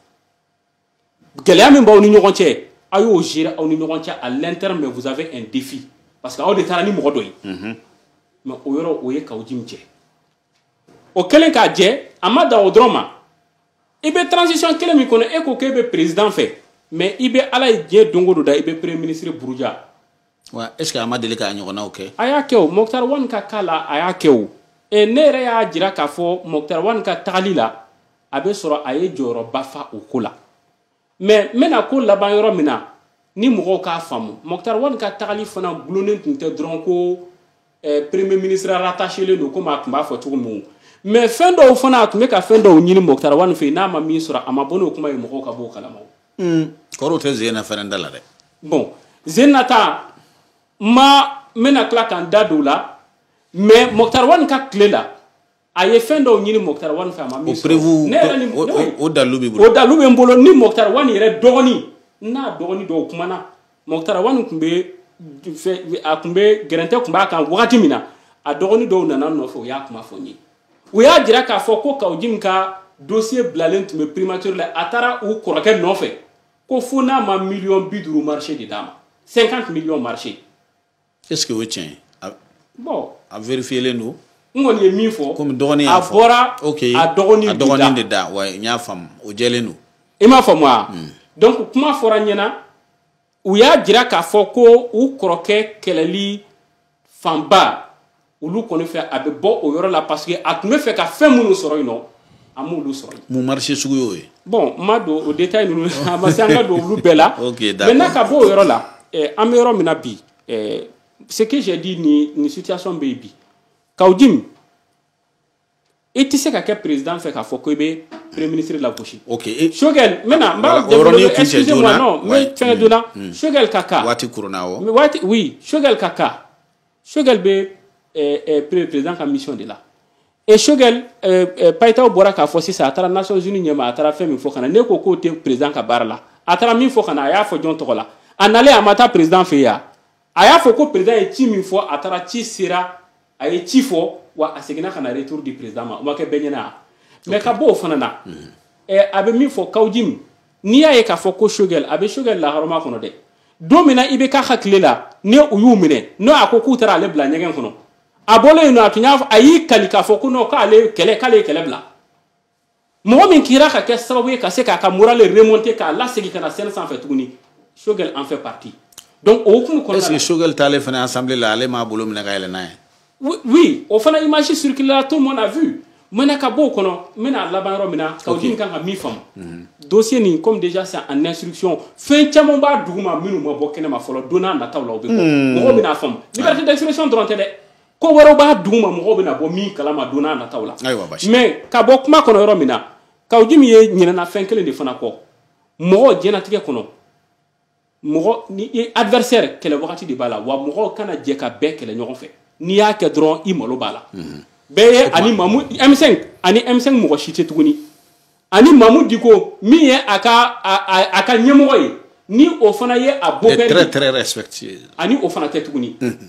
gɛlɛya min b'aw ni ɲɔgɔn cɛ a y'o gérer aw ni ɲɔgɔn cɛ à l'interne mais vous avez un défi parce que aw de taara ni mɔgɔ dɔ ye mhm. mais o yɔrɔ o ye kaw jim jɛ o kɛlen k'a jɛ a ma dan o dɔrɔn ma i bɛ transition kelen min kɔnɔ e ko k'e bɛ président fɛ mais i bɛ ala ye diɲɛ don o don da i bɛ premier ministre buruja wa est ce que a ma deli k'a ɲɔgɔnnaw kɛ a y'a kɛ o moktar wan ka cas la a y'a kɛ o e ne yɛrɛ y'a jira k'a fɔ moktar wan ka tagali la a bɛ sɔrɔ a ye jɔyɔrɔba fa o ko la mais n bɛna ko laban yɔrɔ min na ni mɔgɔw k'a faamu moktar wan ka tagali fana gulonnen tun tɛ dɔrɔn ko eh, premier ministre rattachélen don komi a tun b'a fɔ cogo min mais fɛn dɔw fana a tun bɛ ka fɛn dɔw ɲini Mɔkutari Wani fɛ yen n'a ma min sɔrɔ a ma bɔ n'o kuma ye mɔgɔw ka b'o kalama o hmm. kɔrɔw tɛ zen na fɛnɛ da la dɛ bon zen nata ma n bɛna tila ka n da don o la mais Mɔkutari Wani ka tile la a ye fɛn dɔw ɲini mɔkutari wani fɛ a ma min sɔrɔ ne yɛrɛ ni o dalilu b'i bolo o dalilu bɛ n bolo ni mɔkutari wani yɛrɛ dɔgɔnin n'a dɔgɔnin dɔw kumana mɔkutari wani tun bɛ a tun bɛ gɛrɛntɛ tun b'a kan wagati min na a dɔgɔnin dɔw nana n nɔfɛ u y'a kuma fɔ n ye u y'a jira k'a fɔ ko Kawujim ka dosiye bilalen tun bɛ primature la a taara u kɔrɔkɛ nɔfɛ ko fo n'a ma miliyɔn bi duuru marché de d'a ma 50 miliyɔn marché est ce que o ye tiɲɛ ye bon a vérifielen don n kɔni ye min fɔ komi dɔgɔnin y'a fɔ a bɔra okay. a dɔgɔnin a dɔgɔnin de da wa n y'a faamu o jɛlen don i m'a faamu wa hmm. donc kuma fɔra n ɲɛna u y'a jira k'a fɔ ko u kɔrɔkɛ kɛlɛli fanba olu kɔni fɛ a bɛ bɔ o yɔrɔ la parce que a tun bɛ fɛ ka fɛn minnu sɔrɔ yen nɔ a m'olu sɔrɔ yen. mun marché sugu y'o ye. bon n ma don o détail ninnu a ma se an ka don olu bɛɛ la. ok d'accord maintenant ka bɔ o yɔrɔ la eh, an bɛ yɔrɔ min na bi eh, ce que j'ai dit nin nin situation bɛ yen bi Kawujim i tɛ se ka kɛ président fɛ k'a fɔ ko i bɛ premier ministre lagosi. ok sogɛl n bɛna n b'a développer excusez moi non n bɛ fɛngɛ joona sogɛl ka cas. waati kurunna awɔ. waati oui sogɛl ka cas sogɛl bɛ ɛɛ ɛɛ président ka mission de la. et sogɛl ɛɛ ɛɛ payitaw bɔra k'a fɔ sisan a taara nations unies ɲɛma a taara fɛn min fɔ ka na n'e ko k'o tɛ président ka baara la a taara min fɔ ka na a y'a fɔ jɔn tɔgɔ la a nalen a ma taa président fɛ yen a y'a fɔ ko président ye ci min fɔ a taara ci sera. a ye ci fɔ wa a seginna ka na retour di président ma o ma kɛ bɛɛ ɲɛna a mais ka bɔ o fana na eh, a bɛ min fɔ Kawujim n'i y'a ye k'a fɔ ko shogɛl a bɛ shogɛl laharama kɔnɔ dɛ don min na i bɛ k'a hakili la ni u y'u minɛ n'o a ko k'u taara ale bila ɲɛgɛn kɔnɔ a bɔlen yen nɔ a tun y'a fɔ a y'i kali k'a fɔ ko non k'ale kɛlɛ k'ale ye kɛlɛ bila mɔgɔ min kira ka kɛ sababu ye ka se k'a ka moral remonter k'a lasegin ka na scène sanfɛ tuguni Shogel en fait partie donc o hukumu kɔnɔna la est-ce que Shogel taalen fana assemblée la ale m'a bolo minɛ ka yɛlɛn n'a ye oui, oui o fana image circuléra tout le monde a vu maintenant ka b'o kɔnɔ n bɛna laban yɔrɔ min na Kawujim kan ka min faamu mhm. dossier nin comme déjà c'est en instruction fɛn caman b'a duguma minnu ma bɔ kɛnɛma fɔlɔ don nataw la o bɛ bɔ mhm. mɔgɔw bɛna faamu liberté d'expression dɔrɔn tɛ dɛ ko wɛrɛw b'a duguma mɔgɔw bɛna bɔ min kalama don nataw la mais ka bɔ kuma kɔnɔ yɔrɔ min na Kawujim e ɲinɛna fɛn kelen de fana kɔ mɔgɔ diɲɛlatigɛ kɔnɔ mɔgɔ ni i adversaire kɛlɛ wagati de b'a la wa mɔgɔw kana jɛ ka bɛɛ kɛlɛ ɲɔgɔn fɛ n'i y'a kɛ dɔrɔn i malo b'a la mhm. bɛɛ ye a ni Mamu M5 a ni M5 mɔgɔ si tɛ tuguni a ni Mamu Diko min ye a ka a ka ɲɛmɔgɔ ye ni o fana ye a beau-père a ni o fana tɛ tuguni mhm.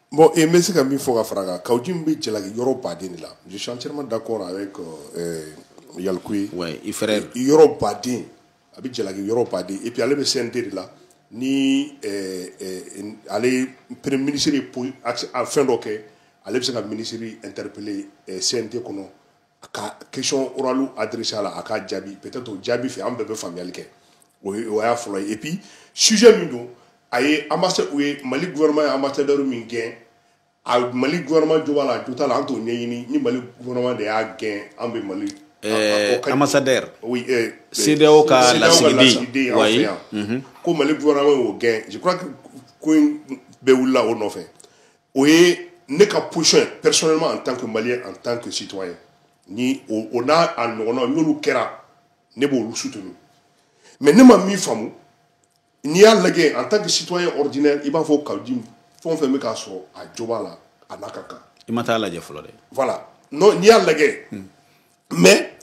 Bon n bɛ se ka min fɔ ka fara kan Kaou Djim bɛ jalaki yɔrɔ baden de la je suis entièrement d'accord avec Yalcouyé i fɛ yɔrɔ baden a bɛ jalaki yɔrɔ baden et puis ale bɛ CNT de la ni ale premier ministre ye fɛn dɔ kɛ ale bɛ se ka ministre interpeller CNT kɔnɔ a ka question orale adressé a la a k'a jaabi peut être o jaabi fɛ an bɛɛ bɛ faamuyali kɛ o ye o y'a fɔlɔ ye et puis sujet min don a ye ambassade u ye mali gouvernement ye ambassadeur min gɛn a mali gouvernement jo b'a la a jo t'a la an t'o ɲɛɲini ni mali gouvernement de y'a gɛn an bɛ mali Eh, ambassadeur oui, eh, CEDEAO ka lasigiden an fɛ yan ko mali gouvernement y'o gɛn je crois que ko in bɛɛ wulila o nɔfɛ o ye ne ka position ye personnellement en tant que malien en tant que citoyen ni o o n'a a ɲɔgɔnnaw n'olu kɛra ne b'olu soutenir mais ne ma min faamu n'i y'a lajɛ en tant que citoyen ordinaire i b'a fɔ Kaou Djim fɛn o fɛn bɛ k'a sɔrɔ a jo b'a la a n'a ka kan i ma taa lajɛ fɔlɔ dɛ voilà non n'i y'a lajɛ hmm. mais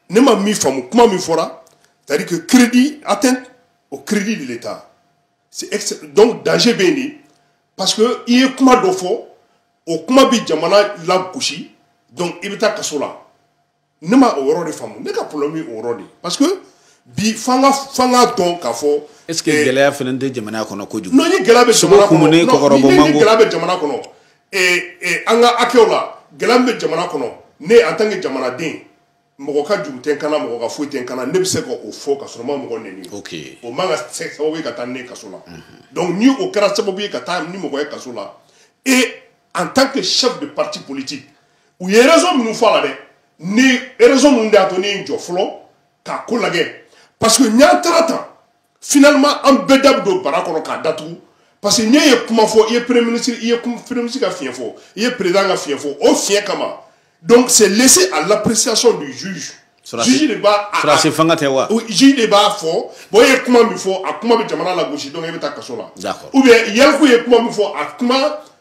ne ma min faamu kuma min fɔra c'est à dire que crédit atteinte au crédit de l'état donc danger bɛ yen de parce que i ye kuma dɔ fɔ o kuma bɛ jamana lagosi donc i bɛ taa kaso la ne ma o yɔrɔ de faamu ne ka problème ye o yɔrɔ de parce que bi f'an ka f'an k'a dɔn k'a fɔ. est ce que eh, gɛlɛya fana tɛ jamana kɔnɔ kojugu. non ni gɛlɛya bɛ jamana kɔnɔ ni gɛlɛya bɛ jamana kɔnɔ ee ee an ka hakɛw la gɛlɛya min bɛ jamana kɔnɔ ne en tant que jamanaden. mɔgɔ ka juru tɛ n kan na mɔgɔ ka foyi tɛ n kan na ne bɛ se ka o fɔ ka sɔrɔ n ma mɔgɔ neni o man ka kɛ sababu ye ka taa ne kaso la donc ni o kɛra sababu ye ka taa ni mɔgɔ ye kaso la et en tant que chef de parti politique u ye raison minnu fɔ a la dɛ ni raison minnu de y'a to ne ye n jɔ fɔlɔ k'a ko lajɛ parce que n'an taara tan finalement an bɛɛ da bɛ don bara kɔnɔ k'a datugu parce que n'e ye kuma fɔ i ye premier ministre i ye premier ministre ka fiɲɛ fɔ i ye président ka fiɲɛ fɔ o fiɲɛ kama donc c'est laissé à l'appréciation du juge juge de b'a sɔrɔdasi fanga tɛ wa juge de b'a fɔ bon e ye kuma min fɔ a kuma bɛ jamana lagosi donc e bɛ taa kaso la ou bien Yalcouyé ye kuma min fɔ a kuma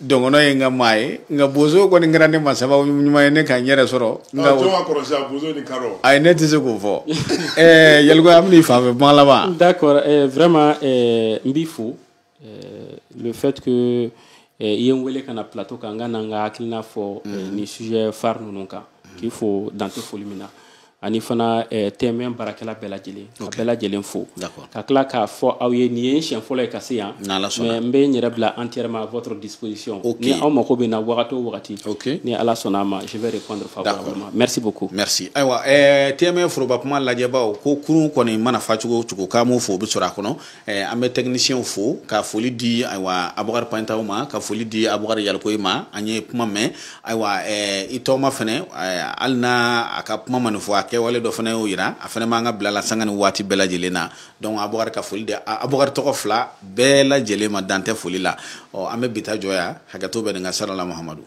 dɔngɔnɔ ye n ka maa ye nka bozo kɔni kɛra ne ma sababu ɲuman ye ne ka n yɛrɛ sɔrɔ nka ah, jɔn ka kɔrɔ sisan bozo ni kadɔ ayi ne tɛ se k'o fɔ ɛɛ eh, Yalcouyé an bɛna i fan fɛ kuma laban d'accord ɛɛ eh, vraiment ɛɛ eh, n b'i fo ɛɛ le fait que ɛɛ i ye n wele ka na plateau kan n ka na n ka hakilina fɔ mm. nin sujet phare ninnu kan k'i fo dan tɛ foli min na ani fana eh, TM1 baarakɛla bɛɛ lajɛlen ka bɛɛ lajɛlen fo ka tila k'a fɔ aw ye nin ye siɲɛ fɔlɔ ye ka se yan mais n bɛ n yɛrɛ bila entièrement à votre disposition ni aw mako bɛ n na wagati o wagati ni ala sɔnna a ma je vais répondre favorablement merci beaucoup merci ayiwa eh, TM1 foroba kuma lajɛbaaw ko kurun kɔni mana fa cogo o cogo k'an b'o fo o bɛ sɔrɔ a kɔnɔ Eh, an bɛ tɛkinisiyɛnw fo ka foli di ayiwa abukari pantaw ma ka foli di abukari yalikoyi ma an ye kuma mɛn ayiwa eh, i tɔgɔma fɛnɛ eh, hali n'a a ka kuma ma nin fɔ a kɛwale dɔ fɛnɛ y'o yira a fɛnɛ b'an ka bila la sanga ni waati bɛɛ lajɛlen na donc abukari ka foli di abukari tɔgɔ fila bɛɛ lajɛlen ma dan tɛ foli la ɔ an bɛ bi ta jɔ yan hakɛto bɛ nin kan salala mahamadu